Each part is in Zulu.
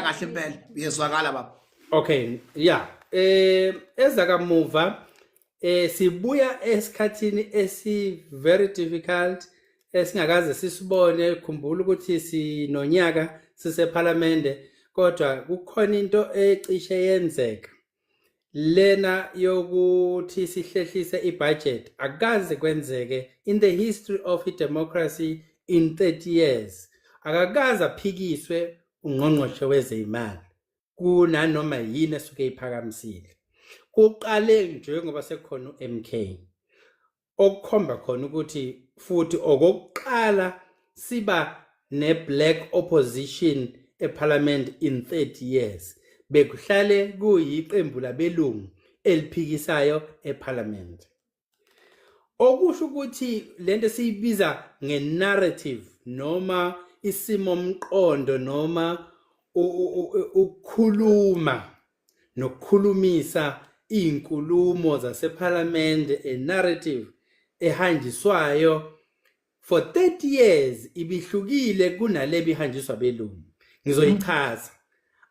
kahle impela uyezwakala baba okay yeah eh ezakamuva eh sibuya esikhathini esi very difficult esingakaze sisibone khumbula ukuthi sinonyaka sisephalamende kodwa kukhona into ecishe yenzeka lena yokuthi sihlehlise ibudget akaze kwenzeke in the history of democracy in 30 years akakaze aphikiswe ungqongqoshe wezeyimali kunanoma yini esuke iphakamisile kuqale njengoba sekukhona uMK okukhomba khona ukuthi futhi okokuqala siba ne black opposition eParliament in 30 years bekuhlale kuyiqembu labelungu eliphikisayo eParliament okusho ukuthi lento siyibiza nge narrative noma isimo mqondo noma ukukhuluma nokukhulumisa izinkulumo zasephalamende a narrative ehanjiswayo for 30 years ibihlukile kunale bihanjiswa belungu ngizoyichaza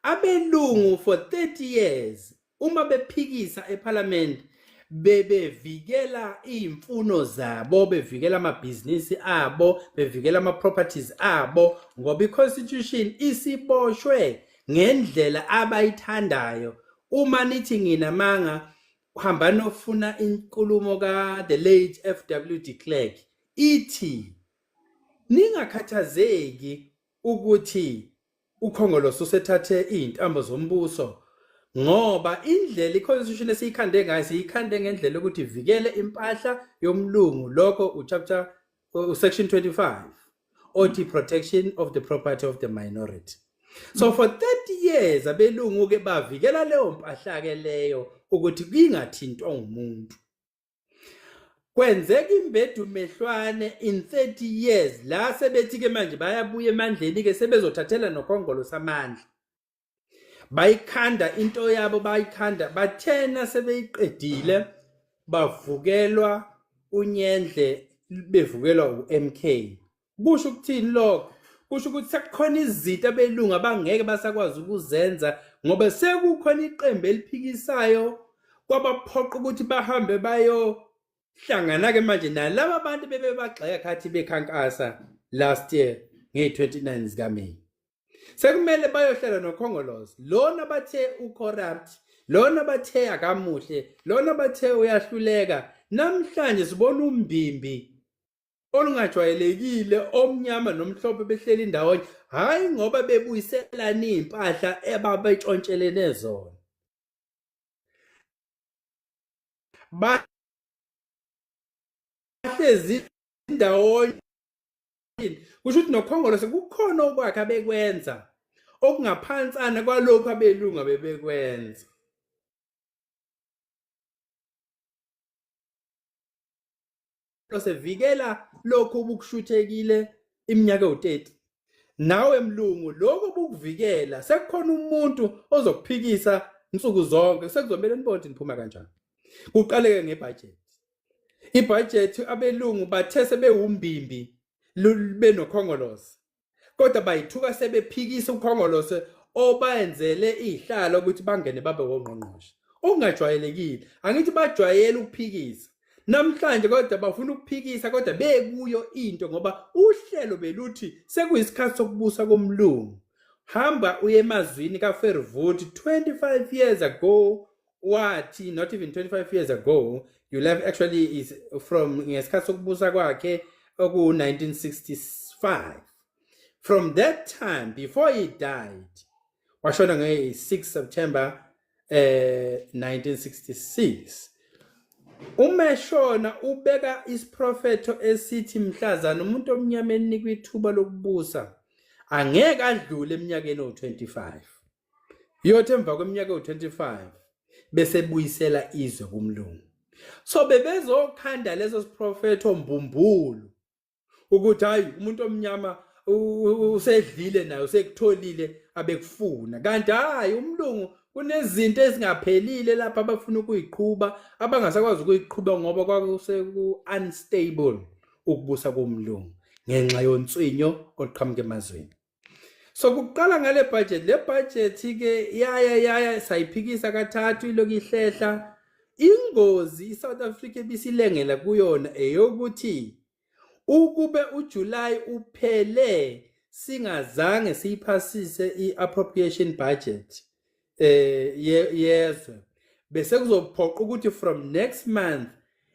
abelungu for 30 years uma bephikisa ephalamende bebevikela iy'mfuno zabo bevikela amabhizinisi abo bevikela ama-properties abo ngoba i-constitution isiboshwe ngendlela abayithandayo uma nithi nginamanga hamba nofuna inkulumo ka the late FW de Klerk ithi ningakhathazeki ukuthi ukhongolose usethathe izintambo zombuso ngoba indlela iconstitution esiyikhande ngayo siyikhande ngendlela ukuthi ivikele impahla yomlungu lokho uchapter usection 25 othi protection of the property of the minority so for 30 years abelungu ke bavikela leyo mpahla ke leyo ukuthi kungathintwa umuntu kwenzeka imbedu mehlwane in 30 years la sebethi ke manje bayabuya emandleni ke sebezothathela nokhongolo samandla bayikhanda into yabo bayikhanda bathena sebeyiqedile bavukelwa unyendle bevukelwa uMK kusho ukuthini lokho kusho ukuthi sekukhona izinto abelungu abangeke basakwazi ukuzenza ngoba sekukhona iqembu eliphikisayo kwabaphoqa ukuthi bahambe bayo hlangana ke manje nalabo abantu bebebagxeka khathi bekhankasa last year ngey-29 zikaMeyi sekumele bayohlala nokhongolozi lona bathe ucorrupt lona bathe akamuhle lona bathe uyahluleka namhlanje sibona umbimbi olungajwayelekile omnyama nomhlophe behleli ndawonye hhayi ngoba bebuyiselani iy'mpahla ebabetshontshelene zona bahlezi ndawonye eziphambili kusho ukuthi nokhongolose kukhona okwakhe abekwenza okungaphansana kwalokhu abelungu abebekwenza losevikela lokhu obukushuthekile iminyaka ewu-30 nawe mlungu lokhu obukuvikela sekukhona umuntu ozokuphikisa nsuku zonke sekuzomele nibonde niphuma kanjani kuqaleke ngebhajethi ibhajethi abelungu bathe sebewumbimbi benokhongolose kodwa bayithuka sebephikisa ukhongolose obenzele ihlalo ukuthi bangene babe wongqongqoshe ungajwayelekile angithi bajwayele ukuphikisa namhlanje kodwa bafuna ukuphikisa kodwa bekuyo into ngoba uhlelo beluthi sekuyisikhathi sokubusa komlungu hamba uye emazwini kaFervoot 25 years ago wathi not even 25 years ago you left actually is from ngesikhathi sokubusa kwakhe oku-1965 from that time before he died washona nge-6 september um eh, 1966 umeshona ubeka isiprofetho esithi mhlazana umuntu omnyama enikwa ithuba lokubusa angeke adlule eminyakeni owu-25 iyothi emva kweminyaka ewu-25 besebuyisela izwe kumlungu so bebezokhanda leso siprofetho mbumbulu ukuthi hhayi umuntu omnyama usedlile naye usekutholile abekufuna kanti hhayi umlungu kunezinto ezingaphelile lapha abafuna ukuyiqhuba abangasakwazi ukuyiqhuba ngoba kwakuseku-unstable ukubusa komlungu ngenxa yonswinyo oluqhamuka emazweni so kuqala ngale budget le budget ke yaya yaya sayiphikisa kathathu iloku ihlehla ingozi iSouth Africa ebisilengela kuyona eyokuthi ukube uJuly uphele singazange siyiphasise iappropriation budget eh yezwe bese kuzophoqa ukuthi from next month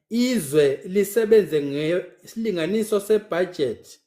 izwe lisebenze ngesilinganiso sebudget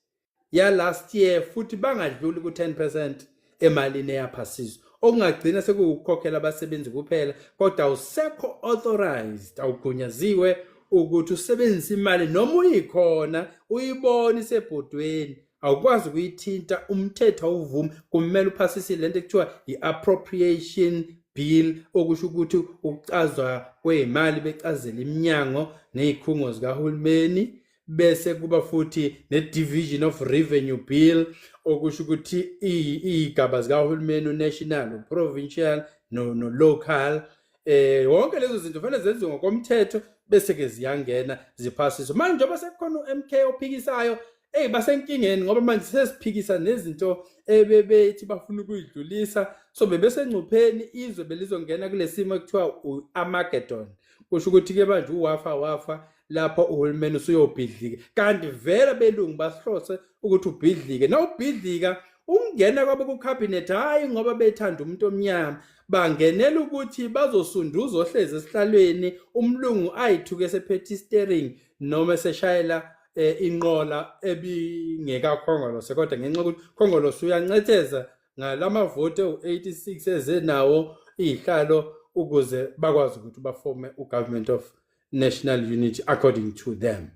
ya last year futhi bangadluli ku 10% emalini eyaphasizwa okungagcina sekukukhokhela abasebenzi kuphela kodwa awusekho authorized awugunyaziwe ukuthi usebenzise imali noma uyikhona uyibona isebhodweni awukwazi ukuyithinta umthetho awuvumi kumele uphasise le nto ekuthiwa yi-appropriation bill okusho ukuthi ukucazwa kweyimali becazela iminyango nezikhungo zikahulumeni bese kuba futhi ne-division of revenue bill okusho ukuthi iy'gaba zikahulumeni unational uprovincial nolocal no eh wonke lezo zinto fanele zenziwe ngokomthetho bese ke ziyangena ziphasiswe manje njengoba sekukhona uMK ophikisayo hey basenkingeni ngoba manje sesiphikisa nezinto ebebethi bafuna ukuyidlulisa so bebesengcupheni izwe belizongena kulesimo ekuthiwa uArmageddon kusho ukuthi ke manje uwafa wafa lapho uhulumeni usuyobhidlika kanti vele belungu basihlose ukuthi ubhidlike nawubhidlika ukungena kwabo kucabinet hhayi ngoba bethanda umuntu omnyama bangenela ukuthi bazosunduza ohlezi esihlalweni umlungu ayithuke esephethe istering noma eseshayela eh, inqola ebingekakhongolose kodwa ngenxa yokuthi khongolose uyancetheza ngalamavoti ewu-86 ezenawo iyihlalo ukuze bakwazi ukuthi bafome ugovernment of national unity according to them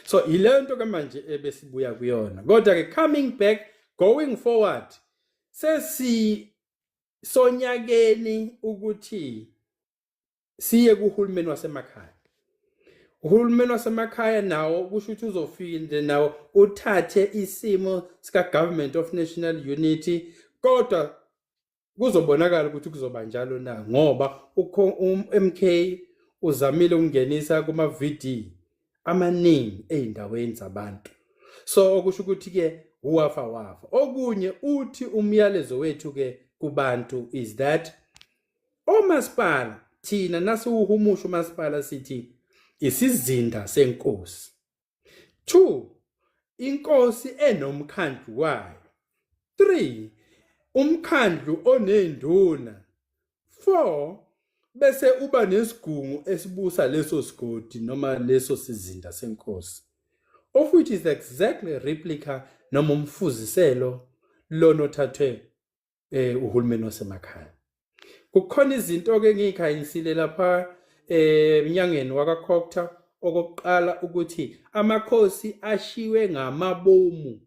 so yileyo nto ke manje ebesibuya kuyona kodwa ke coming back going forward sesi sonyakeni ukuthi siye kuhulumeni wasemakhaya uhulumeni wasemakhaya nawo kusho ukuthi uzofinde nawo uthathe isimo sika-government of national unity kodwa kuzobonakala ukuthi kuzoba njalo na ngoba uMK um, uzamile ukungenisa kuma VD amaningi ezindaweni zabantu so okusho ukuthi ke uwafa wafa okunye uthi umyalezo wethu ke kubantu is that omasipala thina nasiwuhumusha umasipala sithi isizinda senkosi 2 inkosi enomkhandlu wayo 3 umkhandlu onenduna 4 bese uba nesigungu esibusa leso sigodi noma leso sizinda senkosi of which is exactly replica noma umfuziselo lona othathwe eh uhulumeni wasemakhaya kukhona izinto ke ngiyikhayinsile lapha eh mnyangeni wakakhokta okokuqala ukuthi amakhosi ashiwe ngamabomu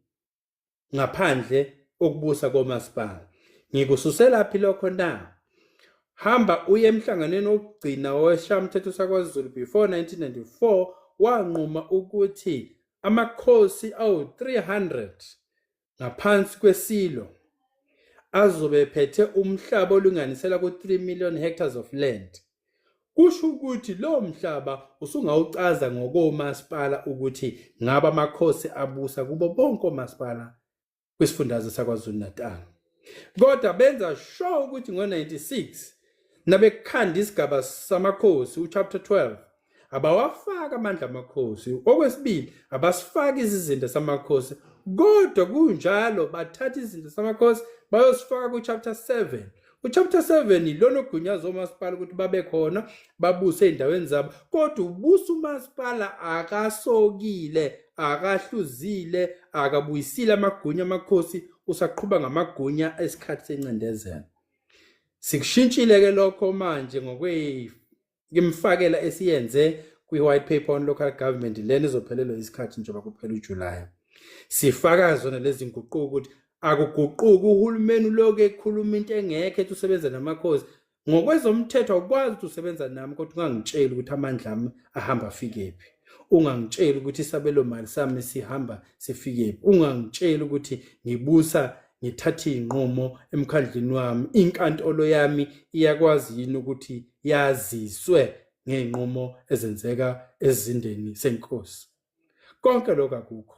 ngaphandle okubusa komasipala ngikususelaphi lokho na hamba uye emhlanganweni wokugcina weshamthetho sakwazulu before 1994 wanquma ukuthi amakhosi awu-300 ngaphansi kweSilo azobe ephethe umhlaba olinganisela ku-3 million hectares of land. Kusho ukuthi lo mhlaba usungawucaza ngokomasipala ukuthi ngaba amakhosi abusa kubo bonke omasipala kwisifundazwe saKwaZulu-Natal. Kodwa benza sho ukuthi ngo-96 nabekhanda isigaba samakhosi uchapter 12 abawafaki amandla amakhosi okwesibili abasifaki izizinda samakhosi kodwa kunjalo bathatha izinto samakhosi bayosifaka kuchapter 7 uchapter 7 ilona ogunyaza omasipala ukuthi babe khona babuse ezindaweni zabo kodwa ubusa umasipala akasokile akahluzile akabuyisile amagunya amakhosi usaqhuba ngamagunya esikhathi sencindezelo sikushintshile ke lokho manje ngokwe ngimfakela esiyenze kwi-white paper on local government lena izophelelwa isikhathi njengoba kuphela ujulayi sifaka zona lezi nguquko ukuthi akuguquki uhulumeni uloku ekhuluma into engekho ethi usebenza namakhosi ngokwezomthetho awukwazi ukuthi usebenza nami kodwa ungangitsheli ukuthi amandla ami ahamba afikephi ungangitsheli ukuthi isabelo mali sami sihamba sifikephi ungangitsheli ukuthi ngibusa ngithathe izinqumo emkhandlini wami inkantolo yami iyakwazi yini ukuthi yaziswe ngeenqumo ezenzeka ezindeni senkosi konke lokho akukho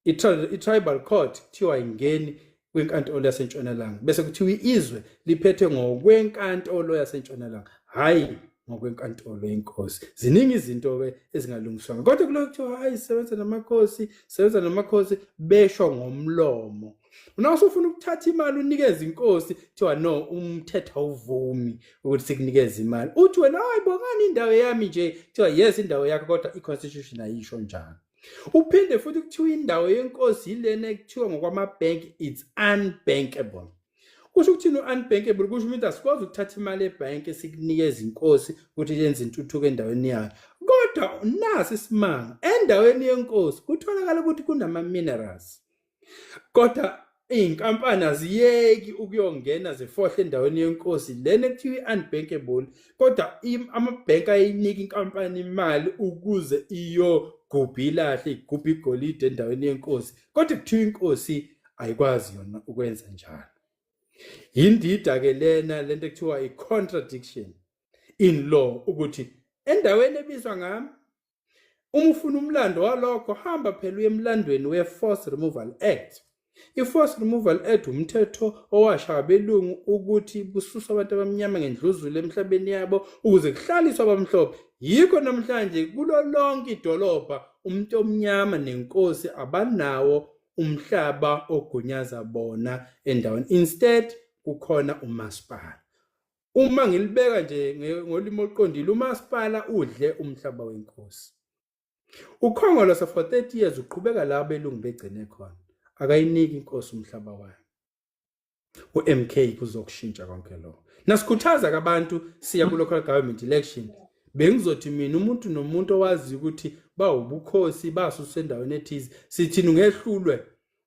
i-tribal court kuthiwa ingeni kwinkantolo yasentshonalanga bese kuthiwa izwe liphethwe ngokwenkantolo yasentshonalanga hhayi ngokwenkantolo yenkosi ziningi izinto ke ezingalungiswanga kodwa kulo kuthiwa hayi sebenza namakhosi sebenza namakhosi besho ngomlomo Una usufuna ukuthatha imali unikeze inkosi kuthiwa no umthetho awuvumi ukuthi sikunikeze imali. Uthi wena hayi bongani indawo yami nje kuthiwa yes indawo yakho kodwa i-constitution ayisho njalo. Uphinde futhi kuthiwa indawo yenkosi yilena ekuthiwa ngokwama-bank it's unbankable. kusho ukuthini u-unbankable kusho ukuthi asikwazi ukuthatha imali ebhanki sikunikeza inkosi ukuthi yenze intuthuko endaweni yayo kodwa nasi isimanga endaweni yenkosi kutholakala ukuthi kunama-minerals kodwa iy'nkampani aziyeki ukuyongena zifohle endaweni yenkosi lena ekuthiwa i-unbankable kodwa amabhenki ayinika inkampani imali ukuze iyogubha ilahle igubha igolide endaweni yenkosi kodwa kuthiwa inkosi ayikwazi yona ukwenza njalo yindida ke lena lento ekuthiwa i-contradiction in law ukuthi endaweni ebizwa ngami uma ufuna umlando walokho hamba phela uye emlandweni we-force removal act I-Forced Removal Act wumthetho owashaywa abelungu ukuthi bususwe abantu abamnyama ngendluzula emhlabeni yabo ukuze kuhlaliswe abamhlophe. Yikho namhlanje kulo lonke idolobha umuntu omnyama nenkosi abanawo umhlaba ogunyaza bona endaweni instead kukhona umasipala uma ngilibeka nje ngolimi oluqondile umasipala udle umhlaba wenkosi ukhongolose for 30 years uqhubeka la belungu begcine khona akayiniki inkosi umhlaba wayo uMK kuzokushintsha konke lokho nasikhuthaza kabantu siya ku local government election bengizothi mina umuntu nomuntu owazi ukuthi bawubukhosi basuswe endaweni ethize sithini ungehlulwe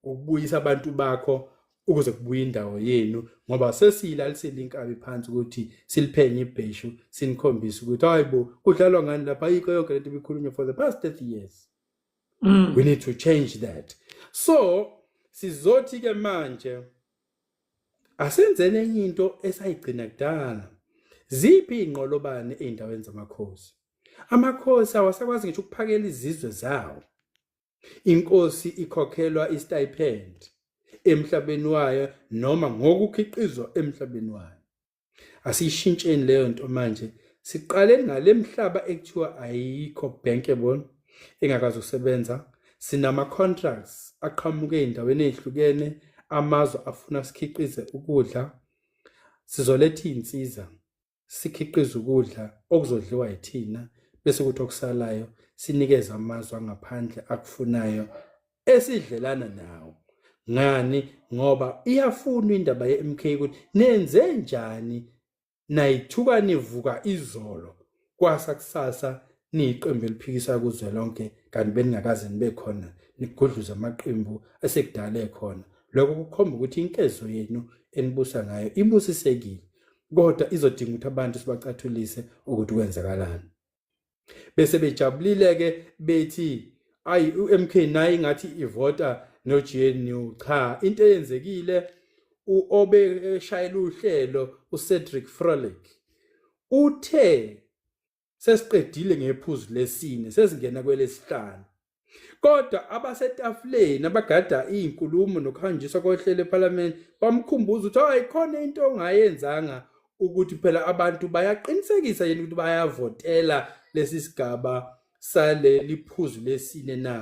ukubuyisa abantu bakho ukuze kubuye indawo yenu ngoba sesiyilalisile inkabi phansi ukuthi siliphenye ibheshu sinikhombise ukuthi hayibo kudlalwa ngani lapha ayikho yonke lento ibikhulunywa for the past 30 years mm. we need to change that so sizothi ke manje asenzele enye into esayigcina kudala ziphi ingqolobane eindaweni zamakhosi amakhosi awasakwazi ngisho ukuphakela izizwe zawo inkosi ikhokhelwa istipend emhlabeni wayo noma ngokukhiqizwa emhlabeni wayo asiyishintsheni leyo nto manje siqale ngale mhlaba ekuthiwa ayikho bankable engakazi usebenza sinama-contracts aqhamuke ey'ndaweni ey'hlukene amazwe afuna sikhiqize ukudla sizoletha iy'nsiza sikhiqize ukudla okuzodliwa yithina bese ukuthi okusalayo sinikeze amazwe angaphandle akufunayo esidlelana nawo ngani ngoba iyafuna indaba yeMK ukuthi nenze njani nayithuka nivuka izolo kwasa kusasa niyiqembu eliphikisa kuzwe lonke kanti beningakaze nibe khona nigudluza amaqembu asekudala ekhona lokho kukhomba ukuthi inkezo yenu enibusa ngayo ibusisekile kodwa izodinga ukuthi abantu sibacathulise ukuthi kwenzakalani bese bejabulile ke bethi ayi uMK naye ngathi ivota no GNU cha into eyenzekile uobe eshayela uhlelo uCedric Frolic uthe sesiqedile ngephuzu lesine sesingena kwelesihlanu Kodwa abasetafuleni abagada izinkulumo nokuhanjiswa kohlelo ePhalamende bamkhumbuza ukuthi ayikhona into ongayenzanga ukuthi phela abantu bayaqinisekisa yini ukuthi bayavotela lesi sigaba saleli phuzu lesine na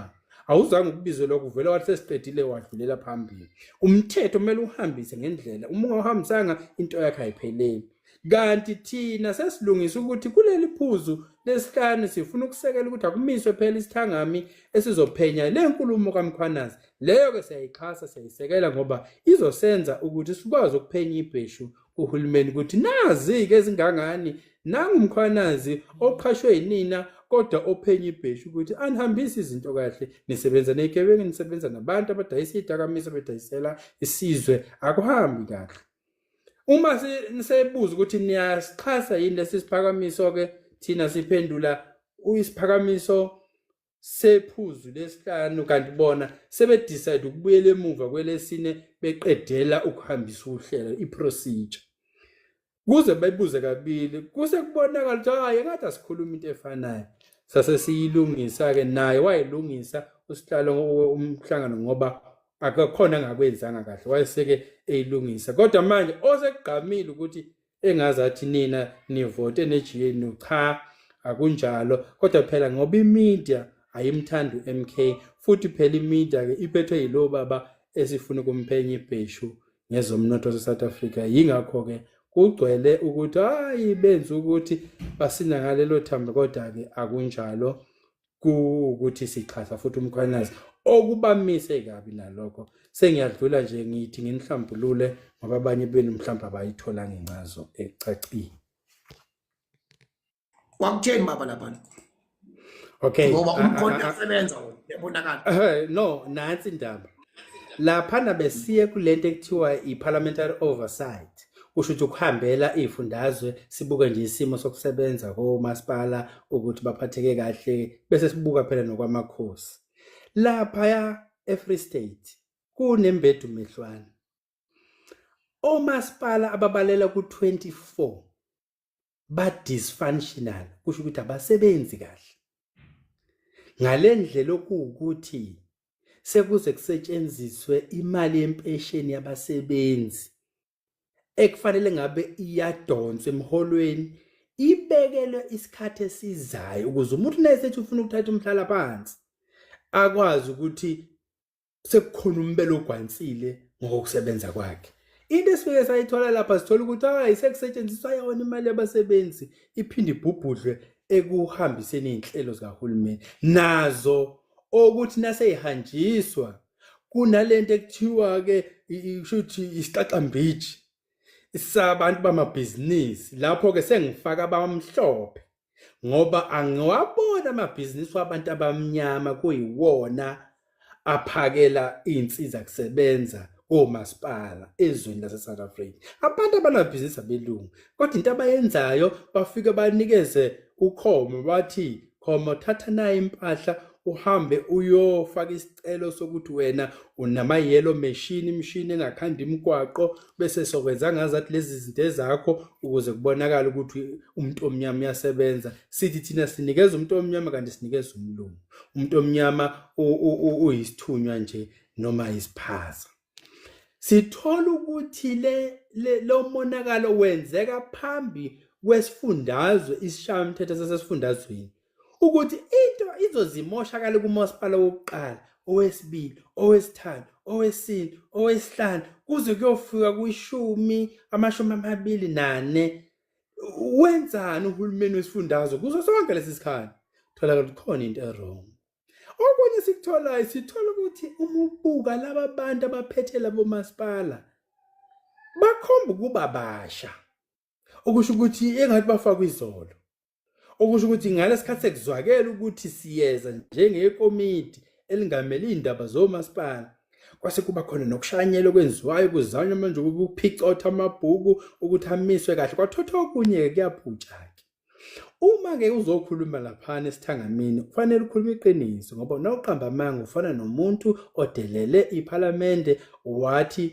awuzange ukubizelwa kuvela wathi sesiqedile wadlulela phambili umthetho kumele uhambise ngendlela uma ungawuhambisanga into yakhe ayipheleli Kanti thina sesilungisa ukuthi kuleli phuzu lesihlanu sifuna ukusekela ukuthi akumiswe phela isithangami esizophenya le nkulumo kaMkhwanazi. Leyo-ke siyayixhasa siyayisekela ngoba izosenza ukuthi sikwazi ukuphenya ibheshu kuhulumeni ukuthi nazi-ke ezingangani nangumkhwanazi oqhashwe yinina kodwa ophenya ibheshu ukuthi anihambise izinto kahle nisebenza ney'gebengu nisebenza nabantu abadayisa iy'dakamizwa bedayisela isizwe akuhambi kahle uma nisebuza ukuthi niyasixhasa yini lesi siphakamiso ke thina siphendula uyisiphakamiso sephuzu lesihlanu kanti bona sebedecide ukubuyela emuva kwelesine beqedela ukuhambisa uhlelo iprocedure kuze bayibuze kabili kuse kubonakala ukuthi hayi engathi asikhuluma into efanayo sase siyilungisa-ke naye wayilungisa usihlalo umhlangano ngoba akakhona angakwenzanga kahle wayeseke eyilungisa kodwa manje osekugqamile ukuthi engazi athi nina nivote nejiyenu cha akunjalo kodwa phela ngoba imedia ayimthandi uMK futhi phela imedia ke iphethwe yilo baba esifuna kumphenya ibheshu ngezomnotho waseSouth Africa yingakho ke kugcwele ukuthi hayi benza ukuthi basina ngalelo thambo kodwa ke akunjalo kuwukuthi sixhasa futhi umkhwanazi okubamise kabi nalokho sengiyadlula nje ngithi nginihlambulule ngoba abanye benu mhlawumbe abayithola ngencazo ecacile kwakutheni baba laphana okay ngoba umkhona asebenza yabonakala eh, no nansi indaba laphana besiye kulento ekuthiwa i-parliamentary oversight kusho ukuthi ukuhambela iy'fundazwe sibuke nje isimo sokusebenza komasipala ukuthi baphatheke kahle bese sibuka phela nokwamakhosi laphaya e-free state kunembedu mehlwana omasipala ababalela ku-24 ba dysfunctional kusho ukuthi abasebenzi kahle ngalendlela okuwukuthi sekuze kusetshenziswe imali yempesheni yabasebenzi ekufanele ngabe iyadonswa emholweni ibekelwe isikhathi esizayo ukuze umuntu naye sethi ufuna ukuthatha umhlala phansi akwazi ukuthi sekukhona umbelo ogwansile ngokusebenza kwakhe into esifike sayithola lapha sithola ukuthi hayi sekusetshenziswa yona imali yabasebenzi iphinde ibhubhudlwe ekuhambiseni izinhlelo zikahulumeni nazo okuthi naseyihanjiswa kunalento ekuthiwa ke shuthi isiqaqambiji sabantu bamabhizinisi lapho-ke sengifaka abamhlophe ngoba angiwabona amabhizinisi wabantu abamnyama kuyiwona aphakela iy'nsiza kusebenza komasipala ezweni lase-south africa abantu abanabhizinisi abelungu kodwa into abayenzayo bafike banikeze ukhomo bathi khoma thatha nayo impahla uhambe uyofaka isicelo sokuthi wena unama yellow machine imishini engakhanda imigwaqo bese sokwenza ngazi athi lezi zinto ezakho ukuze kubonakala ukuthi umuntu omnyama uyasebenza sithi thina sinikeza umuntu omnyama kanti sinikeza umlungu umuntu omnyama uyisithunywa nje noma isiphaza sithola ukuthi le lo monakalo wenzeka phambi kwesifundazwe isishayamthetho sasesifundazweni ukuthi into izozimoshakala kumasipala wokuqala owesibili owesithathu owesine owesihlanu kuze kuyofika kwishumi amashumi amabili nane wenzani uhulumeni wesifundazwe kuso sonke lesi sikhathi thola ukuthi khona into erong okunye sikutholayo sithola ukuthi uma ubuka laba bantu abaphethe labo masipala bakhomba ukuba basha okusho ukuthi engathi bafakwa izolo okusho ukuthi ngalesikhathi sekuzwakela ukuthi siyeza njengekomiti elingamele izindaba zomasipala kwase kuba khona nokushanyela okwenziwayo kuzanywa manje ukuphicotha amabhuku ukuthi amiswe kahle kwathotha okunye-ke kuyaphutsha-ke Uma ke uzokhuluma laphana esithangamini kufanele ukhulume iqiniso ngoba nawuqamba amanga ufana nomuntu odelele iPhalamende wathi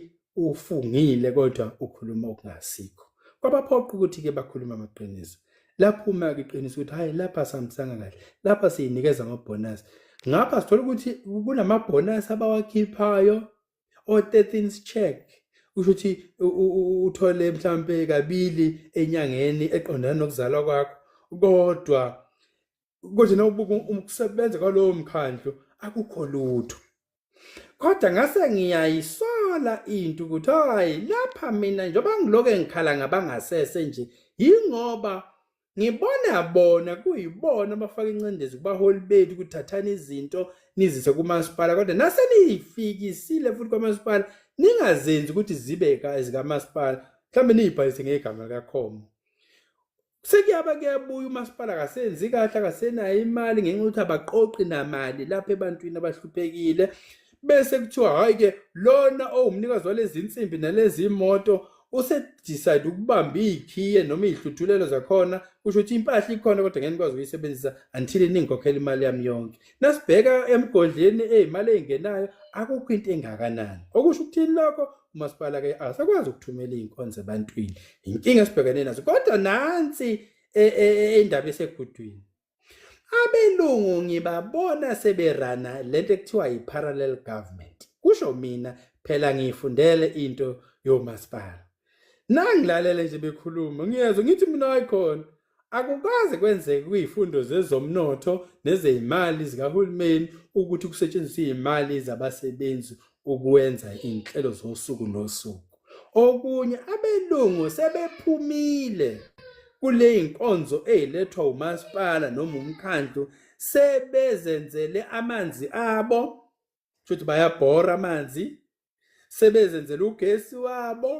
ufungile kodwa ukhuluma okungasikho. Kwabaphoqa ukuthi ke bakhulume amaqiniso. Laphuma ke iqiniso ukuthi hayi lapha sihambisanga kahle. Lapha siyinikeza amabonus. Ngapha sithola ukuthi kunamabonus abawakhiphayo or 13th check usho ukuthi uthole mhlambe kabili enyangeni eqondana nokuzalwa kwakho kodwa konje nawubuka ukusebenza kwalowo mkhandlu akukho lutho kodwa ngase ngiyayisola into ukuthi hayi lapha mina njengoba ngiloke ngikhala ngabangasese nje yingoba ngibona bona kuyibona abafaka incindezi kubaholi bethu kuthathana izinto nizise kumasipala kodwa nase niyifikisile futhi kwamasipala ningazenzi ukuthi zibe zikamasipala mhlawumbe niyibhalise ngegama likakhomo sekuyaba kuyabuya umasipala akasenzi kahle akasenayo imali ngenxa yokuthi abaqoqi namali lapha ebantwini abahluphekile bese kuthiwa hayi ke lona owumnikazi walezi nsimbi nalezi moto usedecide ukubamba iy'khiye noma iy'hluthulelo zakhona kusho ukuthi impahla ikhona kodwa ngeke nikwazi ukuyisebenzisa until ningikhokhela imali yami yonke nasibheka emgodleni ey'mali ey'ngenayo akukho into engakanani okusho ukuthini lokho umasipala ke asakwazi ukuthumela iy'nkonzo ebantwini yinkinga esibhekene nazo kodwa nansi e, e, e, indaba esegudwini abelungu ngibabona seberana lento ekuthiwa yi-parallel government kusho mina phela ngiyifundele into yomasipala nangilalele nje bekhuluma ngiyezwa ngithi mina wayikhona akukaze kwenzeke kuyifundo zezomnotho nezeyimali zikahulumeni ukuthi kusetshenziswe imali zabasebenzi ukwenza iy'nhlelo zosuku nosuku okunye abelungu sebephumile kule y'nkonzo ey'lethwa umasipala noma umkhandlu sebezenzele amanzi abo shuthi bayabhora amanzi sebezenzele ugesi wabo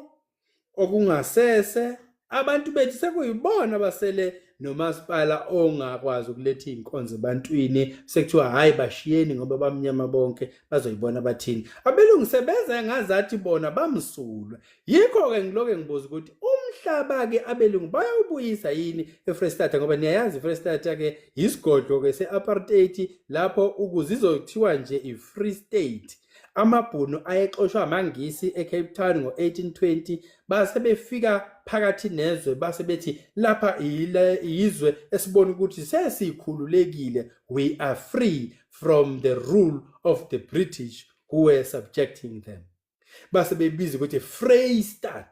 okungasese abantu bethu sekuyibona abasele nomasipala ongakwazi ukuletha iy'nkonzo ebantwini sekuthiwa hhayi bashiyeni ngoba bamnyama bonke bazoyibona bathini abelungu sebeze ngazathi bona bamsulwe yikho-ke ngiloke ngibuza ukuthi umhlaba-ke abelungu bayawubuyisa yini efrestata ngoba niyayazi ifrestata-ke yisigodlo-ke se-apartheid lapho ukuze izothiwa nje i-free state AmaBhunu ayexoshwe amaNgisi eCape Town ngo-1820 base befika phakathi nezwe base bethi lapha yizwe esibona ukuthi sesikhululekile we are free from the rule of the British who were subjecting them base bebiza ukuthi Freystad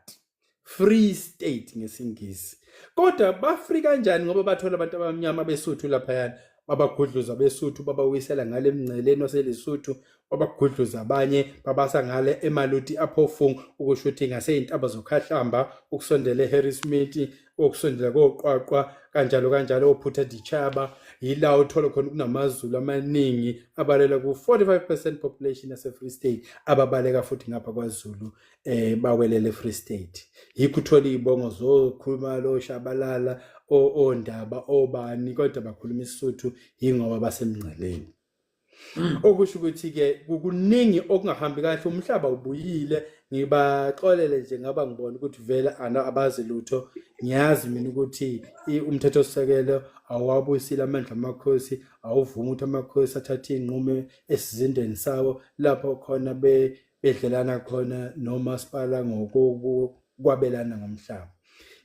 free state ngesingisi kodwa bafri kanjani ngoba bathola abantu abamnyama besuthu laphayana babagudluza besuthu babawisela ngale emngceleni waselesuthu babagudluza abanye babasa ngale emaluti aphofung ukusho ukuthi ngaseyintaba zokhahlamba ukusondela eharrismith okusondela koqwaqwa kanjalo kanjalo ophutha dichaba yila uthola khona kunamazulu amaningi abalela ku-45 percent population yasefree state ababaleka futhi ngapha kwazulu eh bawelele Free State yikho uthola izibongo zokhuluma lo shabalala ondaba obani kodwa bakhuluma isisuthu yingoba basemngceleni mm. okusho ukuthi ke kukuningi okungahambi kahle umhlaba ubuyile ngibaxolele nje ngaba ngibona ukuthi vele abazi lutho ngiyazi mina ukuthi umthetho sisekelo awuwabuyisile amandla amakhosi awuvumi ukuthi amakhosi athathe iy'nqumo esizindeni sawo lapho khona bedlelana khona nomasipala ngokokwabelana ngomhlaba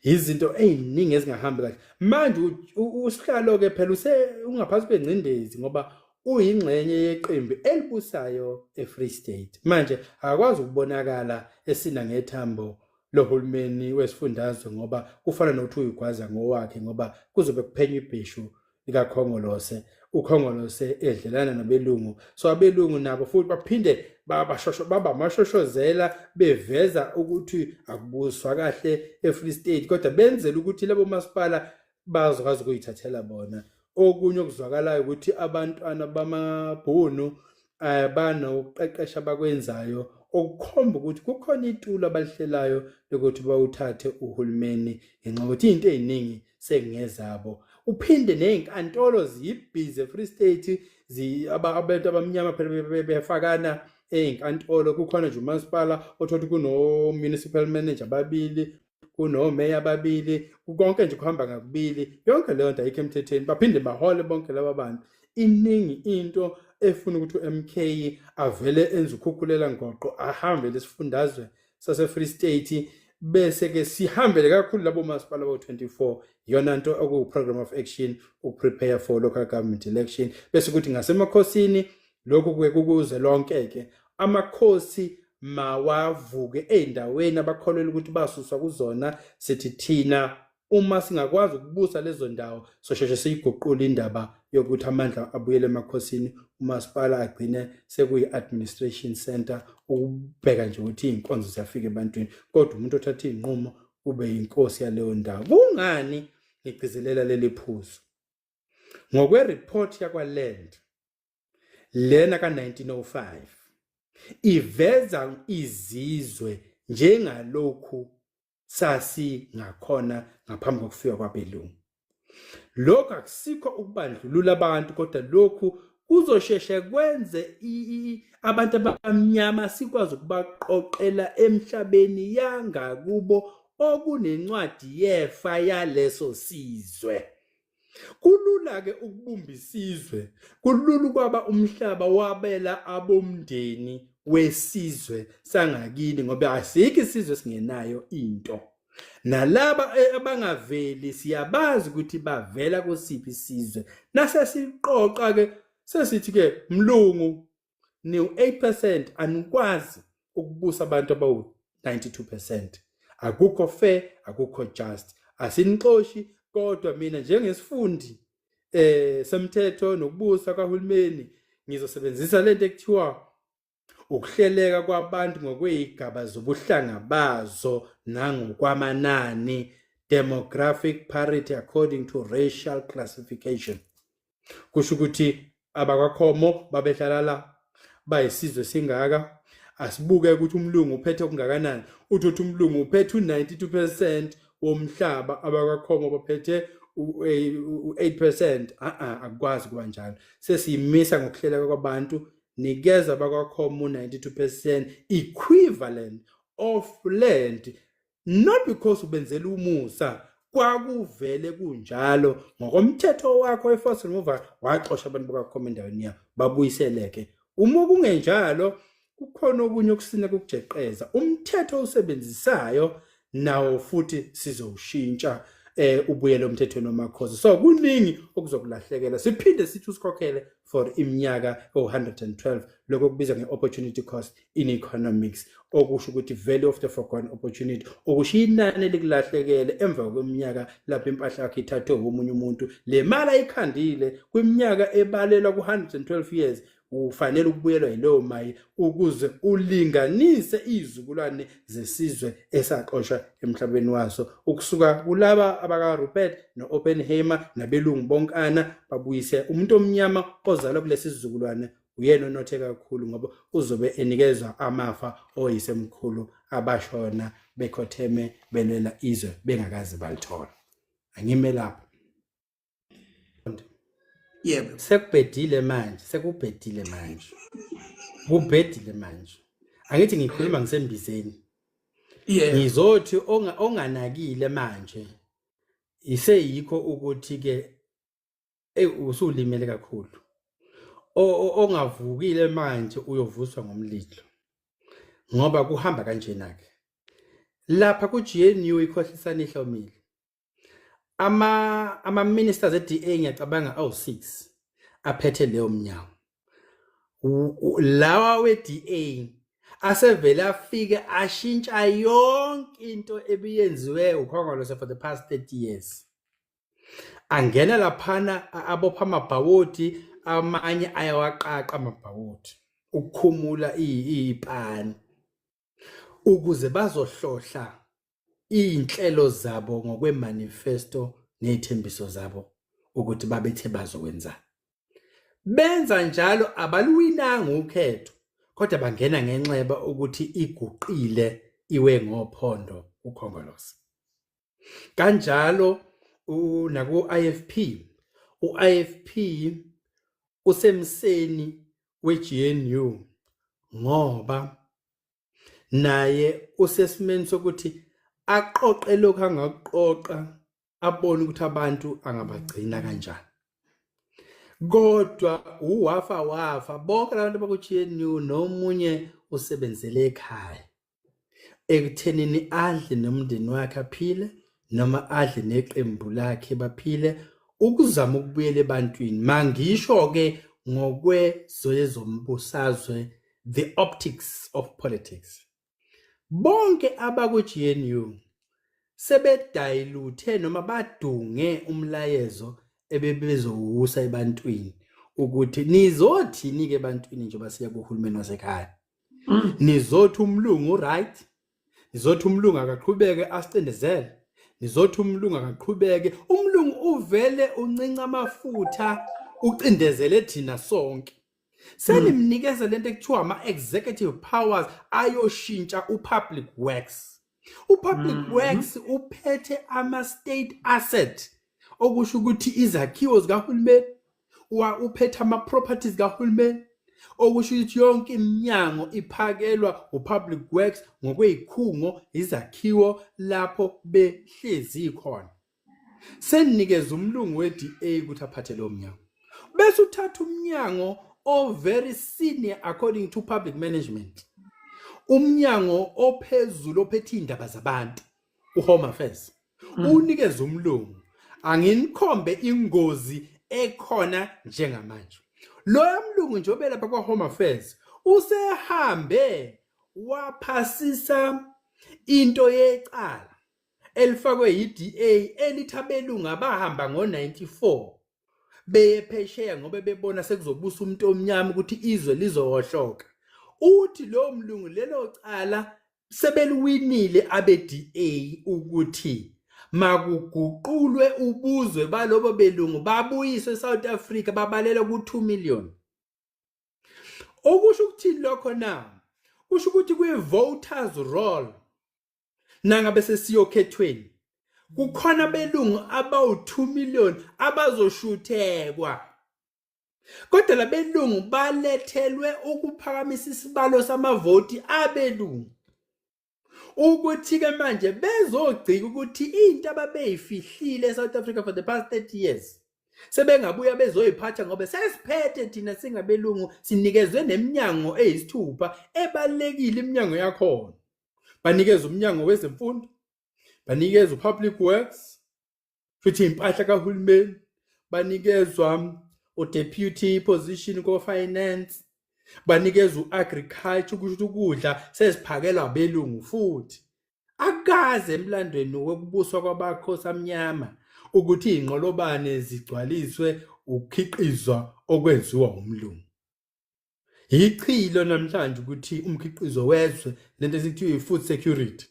izinto eziningi ezingahambi kahle manje usihlalo ke phela use ungaphansi kwengcindezi ngoba uyingxenye yeqembu elibusayo eFree State manje akwazi ukubonakala esina ngethambo lohulumeni wesifundazwe ngoba kufana nokuthi uyigwaza ngowakhe ngoba kuzobe kuphenywa ibheshu likakhongolose ukhongolose edlelana nabelungu so abelungu nabo futhi baphinde babashosho baba mashoshozela beveza ukuthi akubuswa kahle eFree State kodwa benzela ukuthi labo masipala bazokwazi ukuyithathela bona okunye okuzwakalayo ukuthi abantwana bamabhunu eh banokuqeqesha abakwenzayo okukhomba ukuthi kukhona itulo abalihlelayo lokuthi bawuthathe uhulumeni ngenxa ukuthi into eziningi sekungezabo uphinde nezinkantolo ziyibhize free state zi abantu abamnyama phela befakana ezinkantolo kukhona nje umasipala othothi kuno municipal manager babili kunomeya ababili kukonke nje kuhamba ngakubili yonke leyo nto ayikho emthethweni baphinde bahole bonke laba bantu iningi into efuna ukuthi uMK avele enze ukhukhulela ngoqo ahambe lesifundazwe saseFree State bese ke sihambele kakhulu labo masipala bo24 yona into okuwu program of action ukuprepare for local government election bese kuthi ngasemakhosini lokhu kuke kukuze lonke-ke amakhosi mawavuke ey'ndaweni abakholelwa ukuthi basuswa kuzona sithi thina uma singakwazi ukubusa lezo ndawo sosheshe siyiguqule indaba yokuthi amandla abuyele emakhosini umasipala agcine sekuyi-administration center ukubheka nje ukuthi iy'nkonzo ziyafika ebantwini kodwa umuntu othatha iy'nqumo ube yinkosi yaleyo ndawo kungani ngigcizelela leli phuzu ngokweriphothi yakwaland lena ka-1905 iveza izizwe njengalokhu sasingakhona ngaphambi kokufika kwabelungu lokhu akusikho ukubandlulula abantu kodwa lokhu kuzosheshe kwenze abantu abamnyama sikwazi ukubaqoqela emhlabeni yangakubo okunencwadi yefa yaleso sizwe Kulula ke ukubumba isizwe, kulula ukwaba umhlaba wabela abomndeni wesizwe sangakini ngoba asikho isizwe singenayo into. Nalaba e, abangaveli siyabazi ukuthi bavela kusiphi isizwe. Nase siqoqa ke sesithi ke mlungu niwu-8 percent anikwazi ukubusa abantu abawu-92 percent akukho fair akukho just asinixoshi kodwa mina njengesifundi eh semthetho nokubusa kahulumeni ngizosebenzisa lento ekuthiwa ukuhleleka kwabantu ngokweyigaba zobuhlanga bazo nangokwamanani demographic parity according to racial classification kusho ukuthi abakwaKhomo babehlala la bayisizwe singaka asibuke ukuthi umlungu uphethe okungakanani uthi uthi umlungu uphethe u92 percent womhlaba abakwaKhomo baphethe u-8 percent a-a akukwazi kuba njalo sesiyimisa ngokuhleleka kwabantu nikeza abakwaKhomo u-92 percent equivalent of land not because ubenzela umusa kwakuvele kunjalo ngokomthetho wakho we-force removal waxosha abantu bakakhoma endaweni yakho babuyiseleke uma kungenjalo kukhona okunye okusina kokujeqeza umthetho owusebenzisayo nawo futhi sizowushintsha eh ubuyele umthethweni wamakhosi so kuningi okuzokulahlekela siphinde sithi usikhokhele for iminyaka o-112 lokho okubizwa nge-opportunity cost in economics okusho ukuthi value of the forgone opportunity okusho inani elikulahlekele emva kweminyaka lapho impahla yakho ithathwe womunye umuntu le mali ayikhandile kwiminyaka ebalelwa ku-112 years ufanele ukubuyelwa yileyo mayi ukuze ulinganise izizukulwane zesizwe esaxoshwa emhlabeni waso ukusuka kulaba abakaRupert no-Oppenheimer nabelungu bonkana babuyise umuntu omnyama ozalwa kulesi sizukulwane uyena onothe kakhulu ngoba uzobe enikezwa amafa oyisemkhulu abashona bekhotheme belwela izwe bengakazi balithola angime lapho yebo sekubhedile manje sekubhedile manje kubhedile manje angithi ngikhuluma ngisembizeni yeah ngizothi onganakile manje iseyikho ukuthi ke usulimele kakhulu ongavukile manje uyovuswa ngomlilo ngoba kuhamba kanjena ke lapha ku GNU ikhohlisana ihlomile ama ama ministers eDA ngiyacabanga awu 6 aphethe leyo mnyango lawa weDA asevele afike ashintsha yonke into ebiyenziwe ukhongolose for the past 30 years angena laphana abopha amabhawoti amanye ayawaqaqa amabhawoti ukukhumula ipani ukuze bazohlohla izinhlelo zabo ngokwemanifesto nezithembiso zabo ukuthi babethe bazokwenza benza njalo abaluwinanga ukhetho kodwa bangena ngenxeba ukuthi iguqile iwe ngophondo ukhongolose kanjalo naku IFP uIFP usemseni weGNU ngoba naye usesimeni sokuthi aqoqe lokho angakuqoqa abone ukuthi abantu angabagcina kanjani kodwa uwafa wafa bonke abantu baku-GNU nomunye usebenzele ekhaya ekuthenini adle nomndeni wakhe aphile noma adle neqembu lakhe baphile ukuzama ukubuyela ebantwini mangisho ke ngokwezoyezombusazwe the optics of politics bonke abakwi-GNU sebedayiluthe noma badunge umlayezo ebebezowusa ebantwini ukuthi nizothini-ke ebantwini njengoba siya kuhulumeni wasekhaya Mm. nizothi umlungu uright nizothi umlungu akaqhubeke asicindezele nizothi umlungu akaqhubeke umlungu uvele uncinca amafutha ucindezele thina sonke senimnikeza lento ekuthiwa ama-executive powers ayoshintsha u-public works upublic mm -hmm. works uphethe ama state asset okusho ukuthi izakhiwo zikahulumeni uphethe ama properties kahulumeni okusho ukuthi yonke iminyango iphakelwa upublic works ngokweyikhungo izakhiwo lapho behlezi khona seninikeza umlungu we-DA ukuthi aphathe lo mnyango bese uthatha umnyango o very senior according to public management umnyango ophezulu ophethe indaba zabantu uhome affairs mm. unikeza umlungu anginikhombe ingozi ekhona njengamanje lo yamlungu nje obelapha kwa home affairs usehambe waphasisa into yecala elifakwe yiDA elithi abelungu abahamba ngo-94 beye phesheya ngoba bebona sekuzobusa umuntu omnyama ukuthi izwe lizohohloka uthi lo mlungu lelo cala sebeliwinile abe-DA ukuthi makuguqulwe ubuzwe balobo belungu babuyiswe eSouth Africa babalelwa ku-2 million okusho ukuthini lokho na kusho ukuthi kwi-voters roll nangabe sesiyokhethweni kukhona belungu abawu-2 million abazoshuthekwa kodwa labelungu balethelwe ukuphakamisa isibalo samavoti abelungu ukuthi-ke manje bezogcika ukuthi into ababeyifihlile e-south africa for the past 30 years sebengabuya bezoyiphatha ngoba sesiphethe thina singabelungu sinikezwe neminyango eyisithupha ebalulekile iminyango yakhona banikeza umnyango wezemfundo banikeza upublic works futhi impahla kahulumeni banikezwa udeputy position ko-finance banikeza u-agriculture kusho ukudla seziphakelwa belungu futhi akaze emlandweni wokubuswa kwabakhosi amnyama ukuthi iy'nqolobane zigcwaliswe ukukhiqizwa okwenziwa umlungu yichilo namhlanje ukuthi umkhiqizo wezwe lento esithiwa i-food security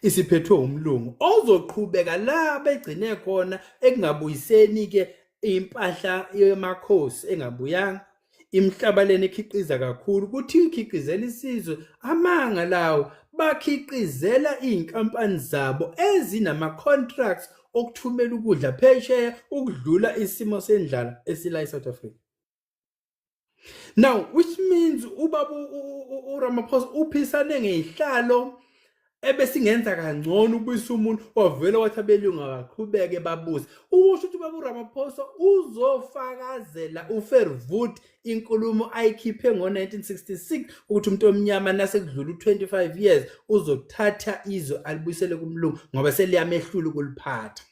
isiphethwe umlungu ozoqhubeka la begcine khona ekungabuyiseni-ke impahla yemakhosi engabuyanga imhlabaleni ekhiqiza kakhulu kuthi ikhiqizela isizwe amanga lawo bakhiqizela izinkampani zabo ezinama contracts okuthumela ukudla phesheya ukudlula isimo sendlala esila eSouth Africa now which means ubaba uRamaphosa uphisane ngezihlalo ebesingenza kangcono ubuyisa umuntu wavela wathi abelungu akaqhubeke babuze ukusho ukuthi ubaba uRamaphosa uzofakazela uFervoet inkulumo ayikhiphe ngo-1966 ukuthi umuntu omnyama nasekudlula u-25 years uzothatha izwe alibuyisele kumlungu ngoba seliyamehlula ukuliphatha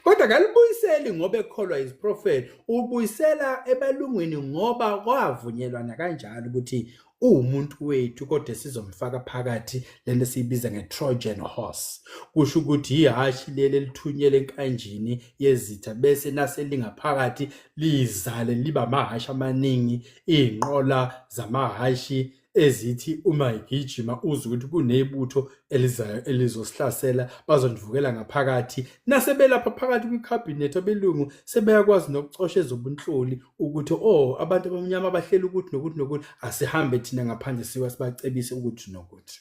kodwa kalibuyiseli ngoba ekholwa iziprofethi ubuyisela ebalungwini ngoba kwavunyelwana kanjalo ukuthi uwumuntu wethu kodwa sizomfaka phakathi lento siyibiza nge-trojan horse kusho ukuthi yihhashi leli elithunyele enkanjini yezitha bese nase lingaphakathi lizale liba amahhashi amaningi iy'nqola zamahhashi ezithi uma igijima uzwe ukuthi kunebutho elizayo elizosihlasela bazondivukela ngaphakathi nasebelapha phakathi kwikhabhinethi abelungu sebeyakwazi nokucosha ezobunhloli ukuthi o oh, abantu abamnyama bahleli ukuthi nokuthi nokuthi asihambe thina ngaphandle siwa sibacebise ukuthi nokuthi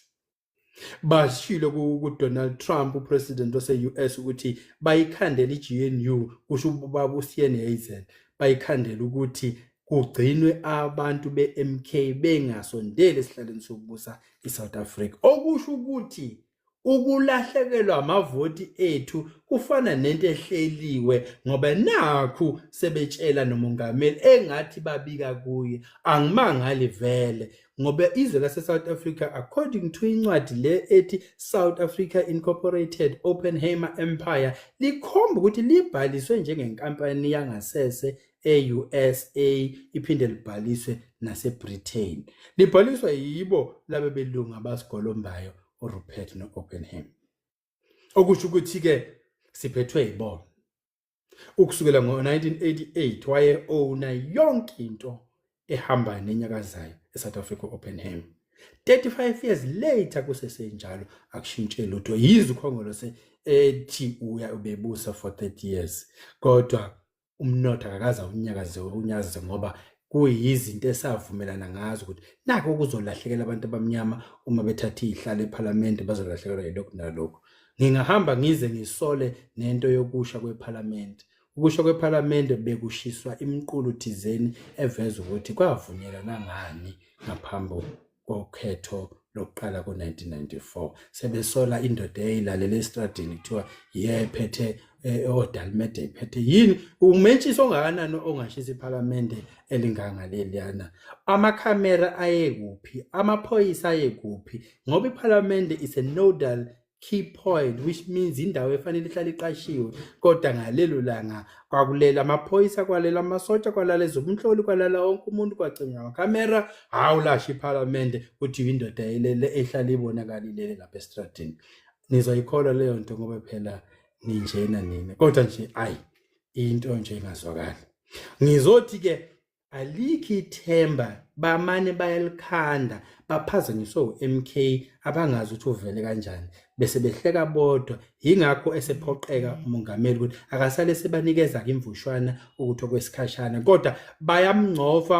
bashilo kuDonald Trump upresident wase-US ukuthi bayikhandela i-GNU kusho ubaba uSiene Hazen bayikhandela ukuthi kugcinwe abantu be-MK bengasondeli esihlalweni sokubusa i-South Africa okusho ukuthi ukulahlekelwa amavoti ethu kufana nento ehleliwe ngoba nakhu sebetshela nomongameli engathi babika kuye angimangali vele ngoba izwe laseSouth Africa according to incwadi le ethi South Africa Incorporated Oppenheimer Empire likhomba ukuthi libhaliswe njengenkampani yangasese e-USA iphinde libhaliswe naseBritain libhaliswa yibo labe belungu abasigolombayo uRupert no-Oppenheimer okusho ukuthi-ke siphethwe yibona Ukusukela ngo-1988 waye-owna yonke into ehambayo nenyakazayo eSouth Africa Oppenheim. 35 years later kusesenjalo akushintshe lutho yize ukhongolose ethi uya ubebusa for 30 years kodwa umnotho akakaza unyakaze unyakaze ngoba kuyizinto esavumelana ngazo ukuthi nako kuzolahlekela abantu abamnyama uma bethatha izihlalo ePhalamende bazolahlekelwa yilokhu nalokhu ngingahamba ngize ngisole nento yokusha kwePhalamende ukusho kwePhalamende bekushiswa imiqulu thizeni eveza ukuthi kwavunyelana ngani ngaphambi kokhetho lokuqala ko-1994 sebesola indoda eyayilalela esitradini kuthiwa yephethe eh, odalimede iphethe yini umentshisi ongakanani ongashisa iphalamende elingangaleliyana amakhamera ayekuphi amaphoyisa ayekuphi ngoba iphalamende is a nodal key point which means indawo efanele ihlale iqashiwe kodwa ngalelo langa kwakulela amaphoyisa kwalela amasotsha kwalala ezobunhloli kwalala wonke umuntu kwacinywa amakhamera hawu lasho iphalamende kuthi indoda elele ehlale ibonakalilele lapha esitradini nizoyikholwa leyo nto ngoba phela ninjena nina kodwa nje ayi into nje ingazwakali ngizothi-ke alikhi ithemba bamane bayalikhanda baphazanyiswe uMK abangazi ukuthi uvele kanjani bese behleka bodwa yingakho esephoqeka umongameli ukuthi akasale sebanikeza ke imvushwana ukuthi okwesikhashana kodwa bayamngcofa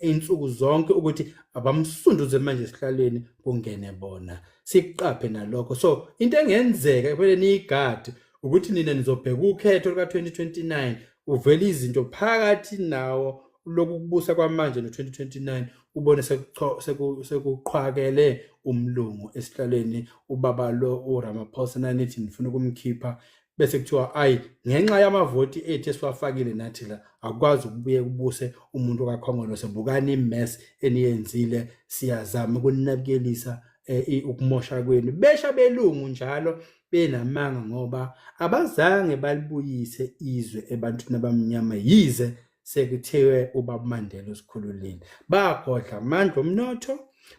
insuku zonke ukuthi abamsunduze manje esihlalweni kungene bona siqaphe nalokho so into engenzeka ebele niyigadi ukuthi nina nizobheka ukhetho luka-2029 uvele izinto phakathi nawo lokukubusa kwamanje no-2029 ubone sekuqhwakele umlungu esihlalweni ubaba lo uramaphosa nanithi nifuna ukumkhipha bese kuthiwa ayi ngenxa yamavoti ethu esiwafakile nathi la akwazi ukubuye kubuse umuntu kakhongolose bukani imes eniyenzile siyazama ukuninekelisa eh, ukumosha kwenu besha belungu njalo benamanga ngoba abazange balibuyise izwe ebantwini abamnyama yize sekuthiwe ubaba Mandela usikhululile bagodla amandla omnotho